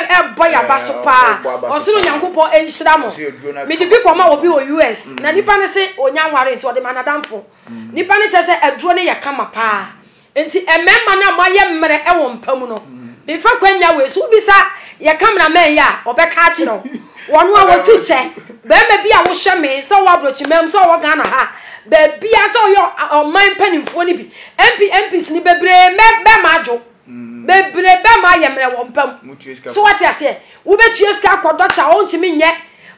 ɛbɔ yaba so paa ɔsoro nyankopɔn nhyira mo mede bi kɔma obi wɔ us na nipa no se ɔnya nware nti ɔde ma nadamfo nipa no kyerɛ sɛ aduro no yɛ kama paa Enti mmarima no a moayɛ mmerɛ wɔ mpa mu no, mefa kwannya wei so, wobisa yɛ cameraman yi a, ɔbɛka akyerɛ wo. Wɔn a wɔtu kyɛ, barima bi a wohyɛ me sɛ ɔwɔ aborɔkyima mu, sɛ ɔwɔ Ghana ha, baabiara sɛ ɔyɛ ɔman mpanimfoɔ no bi, MP, MPs no bebree mɛ bɛrima adwo. Mm. Bebree bɛrima ayɛ mmerɛ wɔ mpa mu. So wate aseɛ, wobɛtua sika akɔ dɔkta, ɔntumi nyɛ.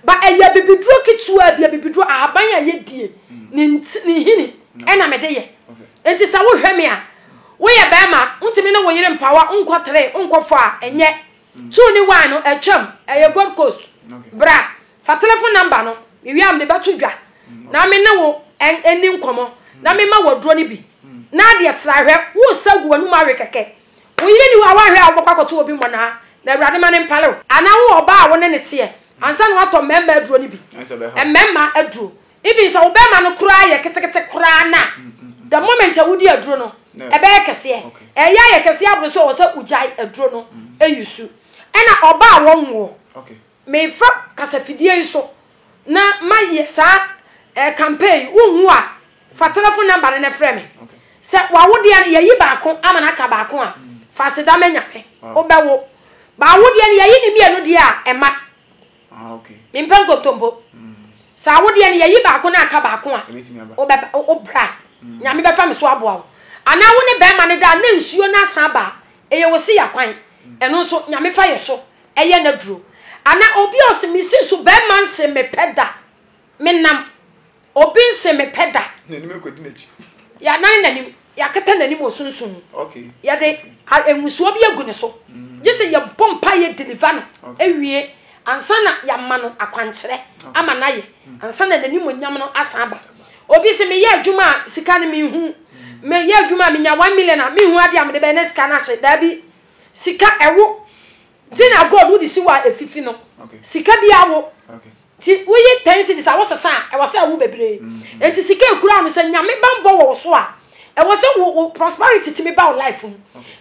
Ba ɛyɛ abibiduro ketewa bi, abibiduro ahaban a yɛdie, mm. ne nhini ɛna mede yɛ. Enti sɛ wohwɛ me a, woyɛ barima, wontumi ne wo yere mpawa nkɔ tere, nkɔ fɔ a, ɛnyɛ. So wonni wine no? Atwam, ɛyɛ Gold Coast. Bra, fa telefon nɔmba no, mewie a mede bɛto dwa, na me ne wo nni nkɔmmɔ, na memma wo aduro no bi. Ná adeɛ tra, hwɛ, woresa agu w'anom awe kɛkɛ. Wo yere nni hɔ a woanhwɛ a wobɛkɔ akɔto obi mmonnaa, na Awurade mma no mpare wo. Anaa wowɔ ɔbaa a wo ne no teɛ, ansa na woatɔ mmarima aduro no bi, mmarima aduro, Even sɛ wo bɛɛma no koraa yɛ ketekete koraa no a, the moment a wodi aduro no, ɛbɛyɛ kɛseɛ. Ɛyɛ ayɛ kɛseɛ aboro so ɛwɔ sɛ wogyae aduro no ɛyi su. Ɛna ɔba a wɔnwoɔ, mefa kasafidie yi so na mayɛ saa eh, campaign yi, wonhu a fa telephone number no na frɛ me. Sɛ wawodeɛ no yɛyi baako ama no aka baako a, fa aseda ma Nyame, wobɛwo. Baawodeɛ no yɛyi ne mmienu deɛ a, ɛma. Ah, okay. Mempɛ nkontompo. Mm. Saa wodeɛ no yɛyi baako no aka baako a wobra mm. nyame bɛfa me so aboa wo anaa wo ne bɛrima no daa na nsuo no asan abaa ɛyɛ wo se yakwan mm. ɛno nso nyame fa yɛ so ɛyɛ no duro ana obi ɔse mesi so bɛrima nse mepɛ da menam Obi nse me pɛ da. N'anim akodi n'akyi. Yɛanan n'anim, yɛakata n'anim wɔ sunsum mu. Okay. Yɛde ngusoɔ bi agu ne so. Mm. Gye sɛ yɛbɔ mpa yɛ deliver no. Awie ansa na yɛama no akwankyerɛ ama no ayɛ. Mm. Ansa na n'anim onyam no asan aba. Obi se meyɛ adwuma a sika no menhu. Mm. Meyɛ adwuma a menya one million a menhu adeɛ a mede bɛyɛ na sika no ahye. Daabi. Sika ɛwo. Tin a gold wode si hɔ a efifi no, sika bi awo. Nti woyi ten cedis a wosesa a, ɛwɔ sɛ ɛwo bebree. Nti sika a ekura no, sɛ Nyame bammɔ wɔ wo so a, ɛwɔ sɛ wo wo prosperity tumi ba wo life mu.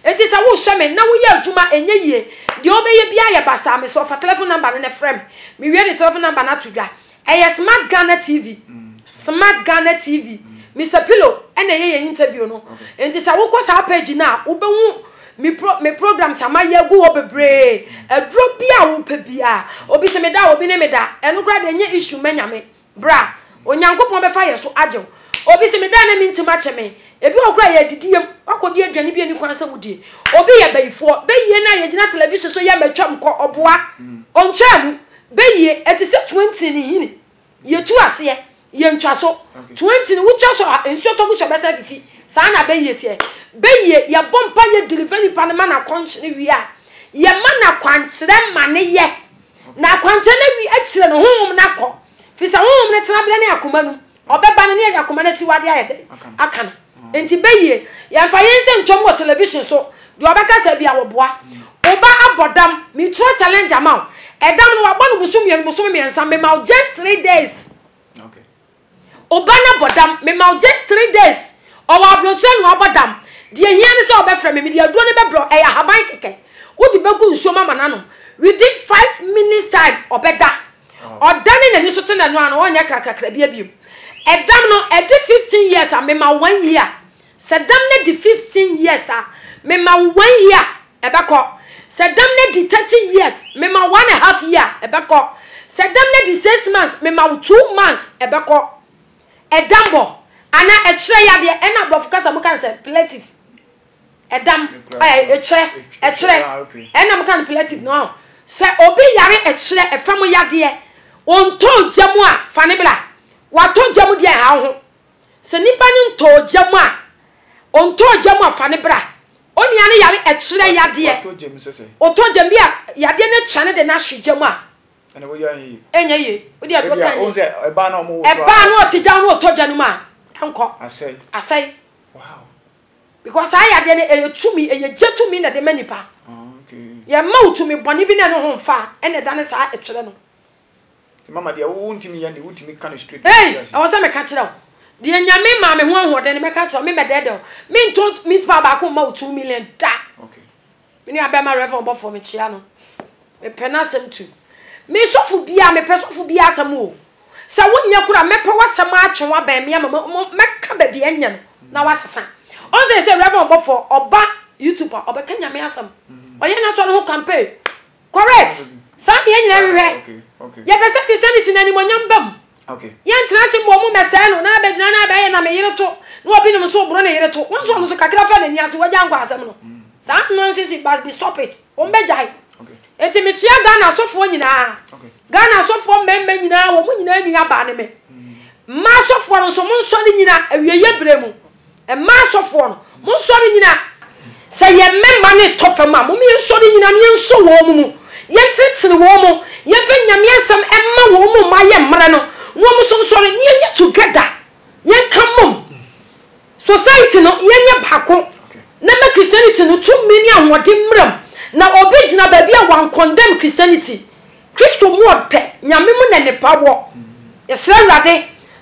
Nti sɛ worehyɛ me na woyɛ adwuma a ɛnyɛ yie, deɛ wobɛyɛ biara yɛ basaa. Mesɛ ɔfa telephone number no na frɛ me, mewie de telephone number no ato dwa. Ɛyɛ Smart Ghana TV Smart Ghana TV Mister Pillow na ɛyɛ yɛn interview no nti sɛ wokɔ saa page no a wobɛhu me pro me programs a mayɛ agu hɔ bebree aduro bi a wopɛ biara obi sɛ me da obi ne me da ɛno koraa deɛ ɛnyɛ issue ma nyame bra onyankopɔn bɛfa yɛ so agye wo obi sɛ me da na mentim akyɛ me ebi wɔ koraa yɛ adidiyam wakɔdi aduane bi ani kwan sɛ wodie obi yɛ bayifoɔ bɛyie no a yɛgyina television so yɛ matwam kɔ ɔboa ɔntwaa mu Bɛyie, ɛte sɛ twenty ne nhini, yɛtu aseɛ, yɛntwa so. Twenty no wotwa so a, nsuo tɔ gu so a ɛbɛsan afifi. Saa na bɛyie teɛ. Bɛyie, yɛbɔ mpaeɛ deliver nipa no ma no akɔnkye no wie a, yɛma no akwankyerɛ ma no yɛ. Na akwankyerɛ no awie akyire no, honhom no akɔ. Firi sɛ honhom no tenaberɛ ne akoma no mu. Ɔbɛba no, ne yɛanya koma no akyiwade ayɛ dɛn? Aka no. Enti bɛ yie. Yɛmfa yɛn nsɛm ntwam wɔ television so. Deɛ ɔbɛka sɛ bia wɔboa. Wo ba abɔ dam. Metwerɛ challenge ama wo. Ɛdam no wabɔ no bosome mmienu, bosome mmiɛnsa. Mema wo just three days. Wo ba no abɔ dam. Mema wo just three days. Ɔwɔ abronkyerɛ na wabɔ dam. Deɛ hia ne sɛ ɔbɛfrɛ me. Mede aduro no bɛbrɛ wo. Ɛyɛ ahaban kɛkɛ. Wode bɛgu nsuom ama no anom. Within five minutes time, ɔbɛda. Ɔdane n'ani so te n'ano ano, ɔnyɛ krakrakra bia biom. Ɛdam no, ɛde 15 years a, mema wo one year. Sɛ dam no di 15 years a, mema wo one year, ɛbɛkɔ. Sɛ dam no di 30 years, mema wo one and half year, ɛbɛkɔ. Sɛ dam no di six months, mema wo two months, ɛbɛkɔ. Ɛdambɔ, anaa ɛkyerɛ yadeɛ, ɛna aborɔfo kasa mu ka no sɛ, plative. Ɛdam, ɛkyerɛ, ɛkyerɛ, ɛna mo ka no palliative no ɔn. Sɛ obi yare ɛkyerɛ ɛfa mu yadeɛ, ɔntɔ ogya mu a, fa ne bra. Watɔ ogya mu deɛ ɛha wo ho. Sɛ nipa no ntɔ ogya mu a, ɔntɔ ogya mu a, fa ne bra. Onua no yare ɛkyerɛ yadeɛ, ɔtɔ ogya mu bi a yadeɛ no kyɛ no de no ahye gya mu a, ɛnyɛ yie. Wode aduro tan ne, ɛbaa no ɔte gya no ɔtɔ gya no mu a, ɛnkɔ. Asɛe. because saa yadeɛ no ɛyɛ tumi ɛyɛ gye tumi na ɛde ma nipa yɛma wo tumi bɔne bi na ɛno ho mfa ɛna ɛda ne saa ɛkyerɛ no mama deɛ wo ntumi yɛ ne wotumi ka no straight hey ɛwɔ sɛ meka kyerɛ wo deɛ nyame maa me ho ahoɔden no mɛka kyerɛ wo me mɛdɛɛdɛ wo mentɔ meat paa baako mma wo two million da okay Me nua bɛma Rev ɔbɔfoɔ me kyea no me pɛ n'asɛm tu me sɔfo biaa me pɛ sɔfo biaa asɛm o sɛ wo nyɛ kora mɛ pɛ w'asɛm akye wa bɛn me ama mɛ ka bɛ bi ɛnyɛ no na wa sesa ɔn sɛ sɛ Rev ɔbɔfoɔ ɔba YouTube a ɔbɛ ka nyame asɛm ɔyɛ na sɔ no ho campaign Correct! Saa na yɛn nyinaa hwehwɛ. Yɛpɛ sɛ te sɛ no te na animuonyam ba mu. Yɛntena ase mmom mmɛsɛe no, na abɛgyina na abɛyɛ na me yere to, na obi nom nso oboro ne yere to. Wo nso ɔno nso kakra fa n'ani ase, wagyae nkwa asɛm no. Saa nonsense yi must be stop it. Wɔbɛgyae. Enti mekyea Ghana asɔfoɔ nyinaa. Ghana asɔfoɔ mmarima nyinaa, wɔn nyinaa nua baa ne me. Mmaa asɔfoɔ no nso, monsɔre nyina awieeɛ berɛ mu. Mmaa asɔfoɔ no, monsɔre nnyina. Sɛ yɛn mmɛmma no retɔ fam a, mom yɛnsɔre nnyina na yɛnsɔ wɔn mu, yɛnkyerekyere wɔn, yɛmfa Nyame asɛm mma wɔn mma yɛmmrɛ no, na wɔn nso nsɔre na yɛnyɛ together, yɛnka mom. Society no, yɛnyɛ baako na ɛmma Christianity no tumi ne ahoɔden mmra mu, na ɔbɛgyina baabi a wɔancondemn Christianity. Kristo mu ɔdɛ, Nyame mu na nipa wɔ. Yɛsrɛ Awurade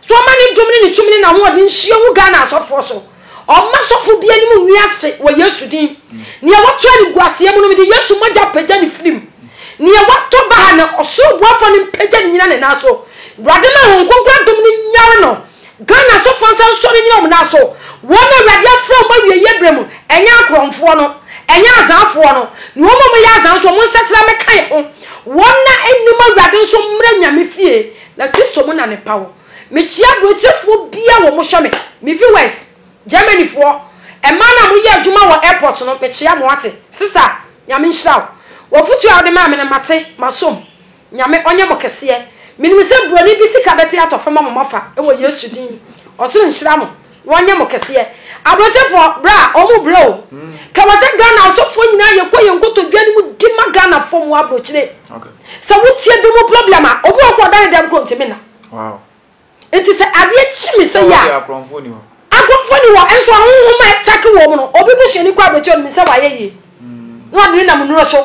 sɛ ɔma ne dom ne ne tumi ne n'ahoɔden nhyia ngu Ghana asɔfoɔ so. Ɔmma sɔfo bi anim ngu ase wɔ Yesu din. Nea watɔ animguaseɛ mu no, mede Yesu mogya pagya no firi mu. Nea watɔ baha no, ɔsoro boafoɔ no mpagya no nnyina ne nan so. Awurade ma Honhom Kronkron adom no nyare no. Ghana asɔfoɔ nsa nsɔre nnyina wɔn nan so, wɔn na Awurade afrɛ wɔn awieeɛ berɛ mu, ɛnyɛ akorɔmfoɔ no, ɛnyɛ azanfoɔ no, ne wɔn a wɔyɛ azan nso, wɔn nsakyera mmɛka yɛn ho, wɔn na ɛnnim Awurade nso mmra Nyame fie, na Kristo mu na ne pa wɔ. Mekyea aburokyerefoɔ biara wɔ mohyɛ me, me viewers, Germany foɔ, mmaa no a moyɛ adwuma wɔ airport no, mekyea mo, wate, sister, Nyame nhyira wo, w'afotuo a wode maa me no, mate, masom. Nyame ɔnyɛ mo kɛseɛ. Menim sɛ buroni bi sika bɛte atɔ fam ama mo afa wɔ Yesu din. Ɔsoro nhyira mo. Wɔnyɛ mo kɛseɛ. Abrɔkyefoɔ, bra, wɔn brɛ o. Ka wɔ sɛ Ghana asɔfoɔ nyinaa yɛ kɔ yɛn nkotodwe anim di ma Ghanafoɔ mu abrokyire. Sɛ wo tie bi mu problem a, obi wɔ hɔ ɔda ne dɛm koro ntimi nna. Enti sɛ adeɛ kye me sɛi a, akorɔmfoɔ nni hɔ, nso ahonhom a ɛtake wɔn no, obi busuani kɔ aberɛkyɛ ɔnim sɛ wayɛ yie, na ɔde no nam nnuro so,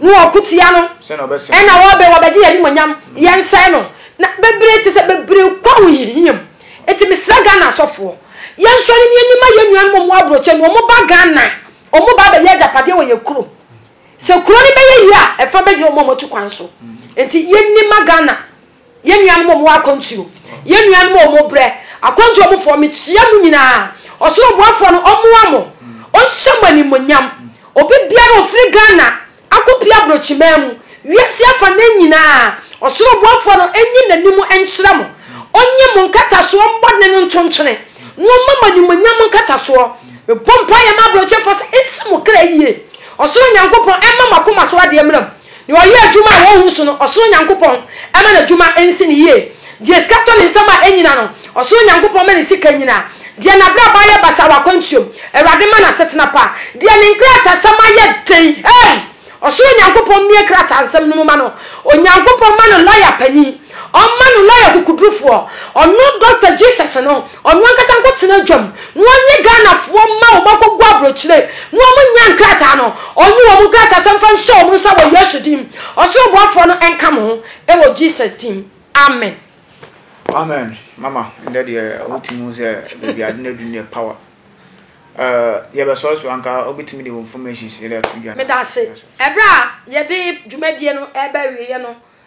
na wɔko tia no, ɛnna wɔbɛn, wɔbɛgye yɛn animuonyam, yɛnsɛe no, na bebree te sɛ bebree kɔ ahohiahia mu. Enti mesrɛ Ghana asɔfoɔ, yɛnsɔre ne yɛnni ma yɛn nuanom a wɔwɔ aburokyeɛ no, wɔba Ghana, wɔba abɛyɛ agyapadeɛ wɔ yɛn kurom. Sɛ kuro no bɛyɛ yie a, ɛfa bɛgyina wɔn a wɔatu kwan so. Enti yɛnni ma Ghana. Yɛn nuanom a wɔwɔ akwantuo, yɛn nuanom a wɔbrɛ, akwantuo mufoɔ, mekyia mo nyinaa. Ɔsoro boafoɔ no ɔmmoa mo, ɔnhyɛ mo animuonyam. Obi biara a ɔfiri Ghana akɔpue aborɔkyimaa mu, wiase afanan nyinaa, ɔsoro boafoɔ no nyi n'anim nkyerɛ mo, ɔnyi mo nkatasoɔ mmɔdene no ntontwene, na ɔmma mo animuonyam nkatasoɔ. Mebɔ mpaeɛ ma aborɔkyefoɔ sɛ ɛnsi mo kra yie. Ɔsoro Nyankopɔn ɛmma mo akoma so adeɛ mmra mu. Deɛ ɔyɛ adwuma a wɔnhu so no, ɔsoro Nyankopɔn ma n'adwuma nsi no yie. Deɛ sika tɔ ne nsam a ɛnnyina no, ɔsoro Nyankopɔn ma ne sika nyina. Deɛ n'abrabɔ ayɛ basaa wɔ akwantuom, Awurade ma no asetena pa. Deɛ ne nkrataasɛm ayɛ den, ei, ɔsoro Nyankopɔn mmue nkrataasɛm no mu ma no. Onyankopɔn ma no lɔya panin. Ɔmma no lɔya kokodurufoɔ ɔno Doctor Jesus no ɔno ankasa nkɔ tena dwam na ɔnye Ghanafoɔ mma wɔn akɔgu abrokyire na wɔn nya nkrataa no ɔnye wɔn nkrataa sɛm fa nhyɛ wɔn nsa wɔ Yesu din ɔsoro boafoɔ no nka mo ho wɔ Jesus din Amen. Amen mama ndɛ deɛ wotumi hu sɛ baabi ade no adu neɛ power eh, yɛbɛsɔre so anka wobɛtumi de wo information so yɛde ato dwa meda ase ɛberɛ a yɛde dwumadie no ɛbɛwieɛ no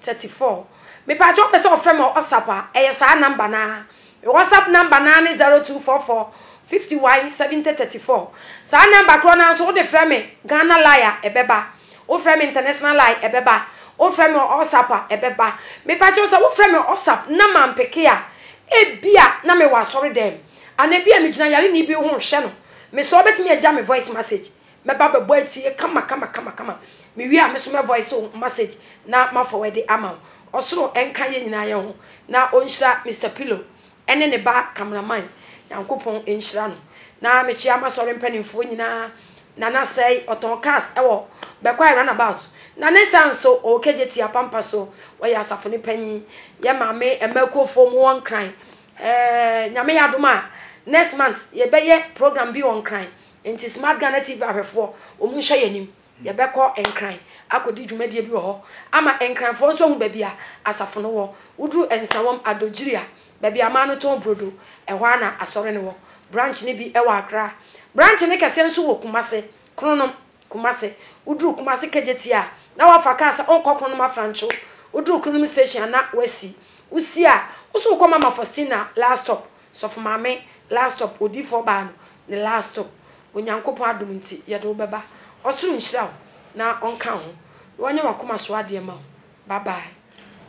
Thirty four Mepakyɛw ɔpɛ sɛ ɔfrɛ me wɔ WhatsApp a ɛyɛ saa number no ara. Me WhatsApp number no ara ne zero two four four fifty one seventy thirty four. Saa number korɔ no ara nso wode frɛ me Ghana line a ɛbɛba. Wofrɛ me international line ɛbɛba. Wofrɛ me wɔ WhatsApp a ɛbɛba. Mepakyɛw sɛ wofrɛ me wɔ WhatsApp na mampeke a, ebia na mewɔ asɔre dɛm. Anaa ebia megyina yareni bi ho rehwɛ no. Mesɔ a wobɛtumi agya me voice message. mɛba bɛbɔ atie kama kama kama kama mewie a meso mɛ voice wo message na ma forward ama wo ɔsoro ɛnka yɛ nyinaa yɛ ho na ɔnhyira Mr Pillow ɛne ne ba cameraman nyankopɔn ɛnhyira no na mekyia masɔre mpanimfoɔ nyinaa nana sɛe ɔtɔn cars ɛwɔ bɛkwae runabout na ne nsa nso ɔwɔ kagye tia pampa so wɔyɛ asafo ne panyin yɛ maame ɛma kuofoɔ mu wɔn kran ɛɛ nyame yɛ adom a next month yɛbɛyɛ program bi wɔn kran Enti Smart Ghana TV ahwɛfoɔ, wɔn nhyɛ yɛn anim. Yɛbɛkɔ Nkran akɔdi dwumadie bi wɔ hɔ ama Nkranfoɔ nso ahu baabi a asafo no wɔ. Woduru Nsawam, Adodwiri a, baabi a aman no tɔn burodo, ɛhɔ ara na Asɔre no wɔ. Branch no bi wɔ Accra. Branch no kɛseɛ nso wɔ Kumasi, Kronom, Kumasi. Woduru Kumasi Kejetia a, na woafa kaa sɛ wonkɔ Kronom Afrancho. Woduru Kronom Station a, na woasi. Wosi a, wo nso wokɔ Mama Faustina last stop. Sɔfo maame last stop odiifo ɔbaa no ne last stop Onyankopɔn adom nti yɛde wo bɛba ɔsoro nhyira wo na ɔnka ho na ɔnyɛ wakoma so adeɛ ma wo bye bye.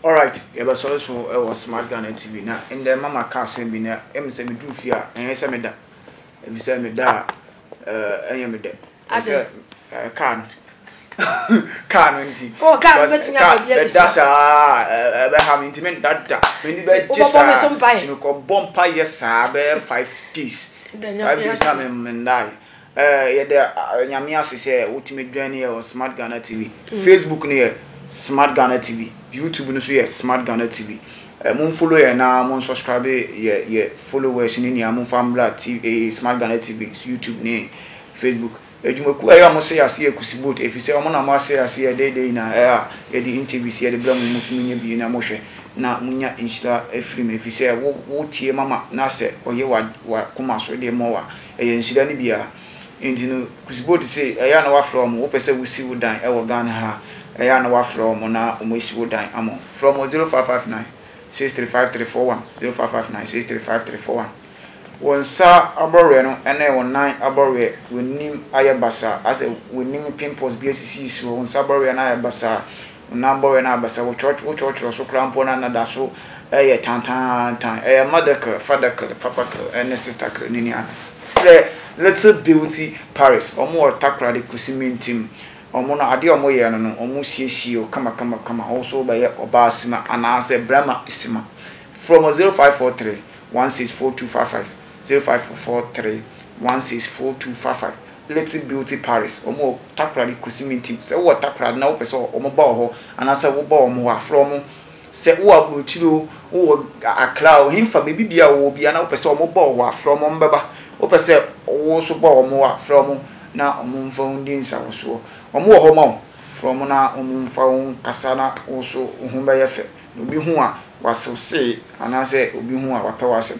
Alright yɛbɛsɔ nso wɔ smart Ghana TV na ndɛ mama ka asɛm bi na ɛm sɛ meduru fie a ɛnyɛ sɛ meda ɛfisɛ meda a ɛnyɛ medɛ. sɛ kaa no kaa no nti oh kaa no bɛtumi akɔ bia bi so ɛda saa ɛbɛha me nti me nda da m'ani bɛgye saa nti mekɔbɔ mpa yɛ saa bɛyɛ five days five days na mendae yɛde nyame ase sɛ wotumi dwan yɛ wɔ smart ghana tv mm. facebook no yɛ smart ghana tv youtube no so yɛ smart ghana tv Eh, mun follow yɛ na mun subscribe yɛ yɛ followers ne nea mun fa mbra tv eh, smart ghana tv youtube ne Facebook, Adwumakuo a ɛyɛ ɔmo sɛe aseɛ kusi boat efisɛ ɔmo na ɔmo asɛe aseɛ ɛdɛɛ dɛɛ nyinaa ɛɛ a yɛde ntɛvis yɛde brɛ mo motumi nya bi na mohwɛ na monya nhyira firi mu efisɛ wo wo tie mama na sɛ ɔyɛ wa wa koma so deɛ mɔ wa ɛyɛ nhyira ne biaa nti no kusi boat se ɛyɛ a na wafrɛ ɔmo wopɛ sɛ wo si wo dan ɛwɔ Ghana ha ɛyɛ a na wafrɛ ɔmo na ɔmo asi wo dan ama wo frɛ ɔmo 0559 635341 0559 635341. Wo nsa abɔweɛ no ne wo nan abɔweɛ, w'anim ayɛ basaa, asɛ w'anim pimples bi asisisisi hɔ, wo nsa abɔweɛ no ayɛ basaa, wo nan abɔweɛ no ayɛ basaa, wo kyerɛkyerɛ so koraa mpo no na da so yɛ tantaantan. Ɛyɛ mother care, father care, papa care ne sister care ne nua. Frɛ Little Beauty Paris, wɔn wɔ Takoradi Kusimintim. Wɔn no adeɛ a wɔyɛ no no, wɔsiesie wo kamakamakama, wo nso wobɛyɛ ɔbaa sima anaasɛ barima sima. Frɛ wɔn 0543. One six four two five five zero five four four three one six four two five five Little Beauty Paris wɔn wɔ Takoradi Kusimintim sɛ wowɔ Takoradi na wopɛ sɛ wɔn ba wɔ hɔ anaasɛ woba wɔn hɔ a frɛ wɔn sɛ wowɔ Aburokyire o wowɔ Accra o henfa baabi bia a wɔwɔ bia na wopɛ sɛ wɔn ba wɔ hɔ a frɛ wɔn wɔbɛba wopɛ sɛ wo nso ba wɔn hɔ a frɛ wɔn na wɔn mfa wo ndi nsahosoɔ wɔn wɔ hɔ ma wo frɛ wɔn na wɔn mfa wo nkasa na wo nso wo ho bɛyɛ fɛ. Na obi hu a, wasew see, anaasɛ obi hu a, wapɛ w'asɛm.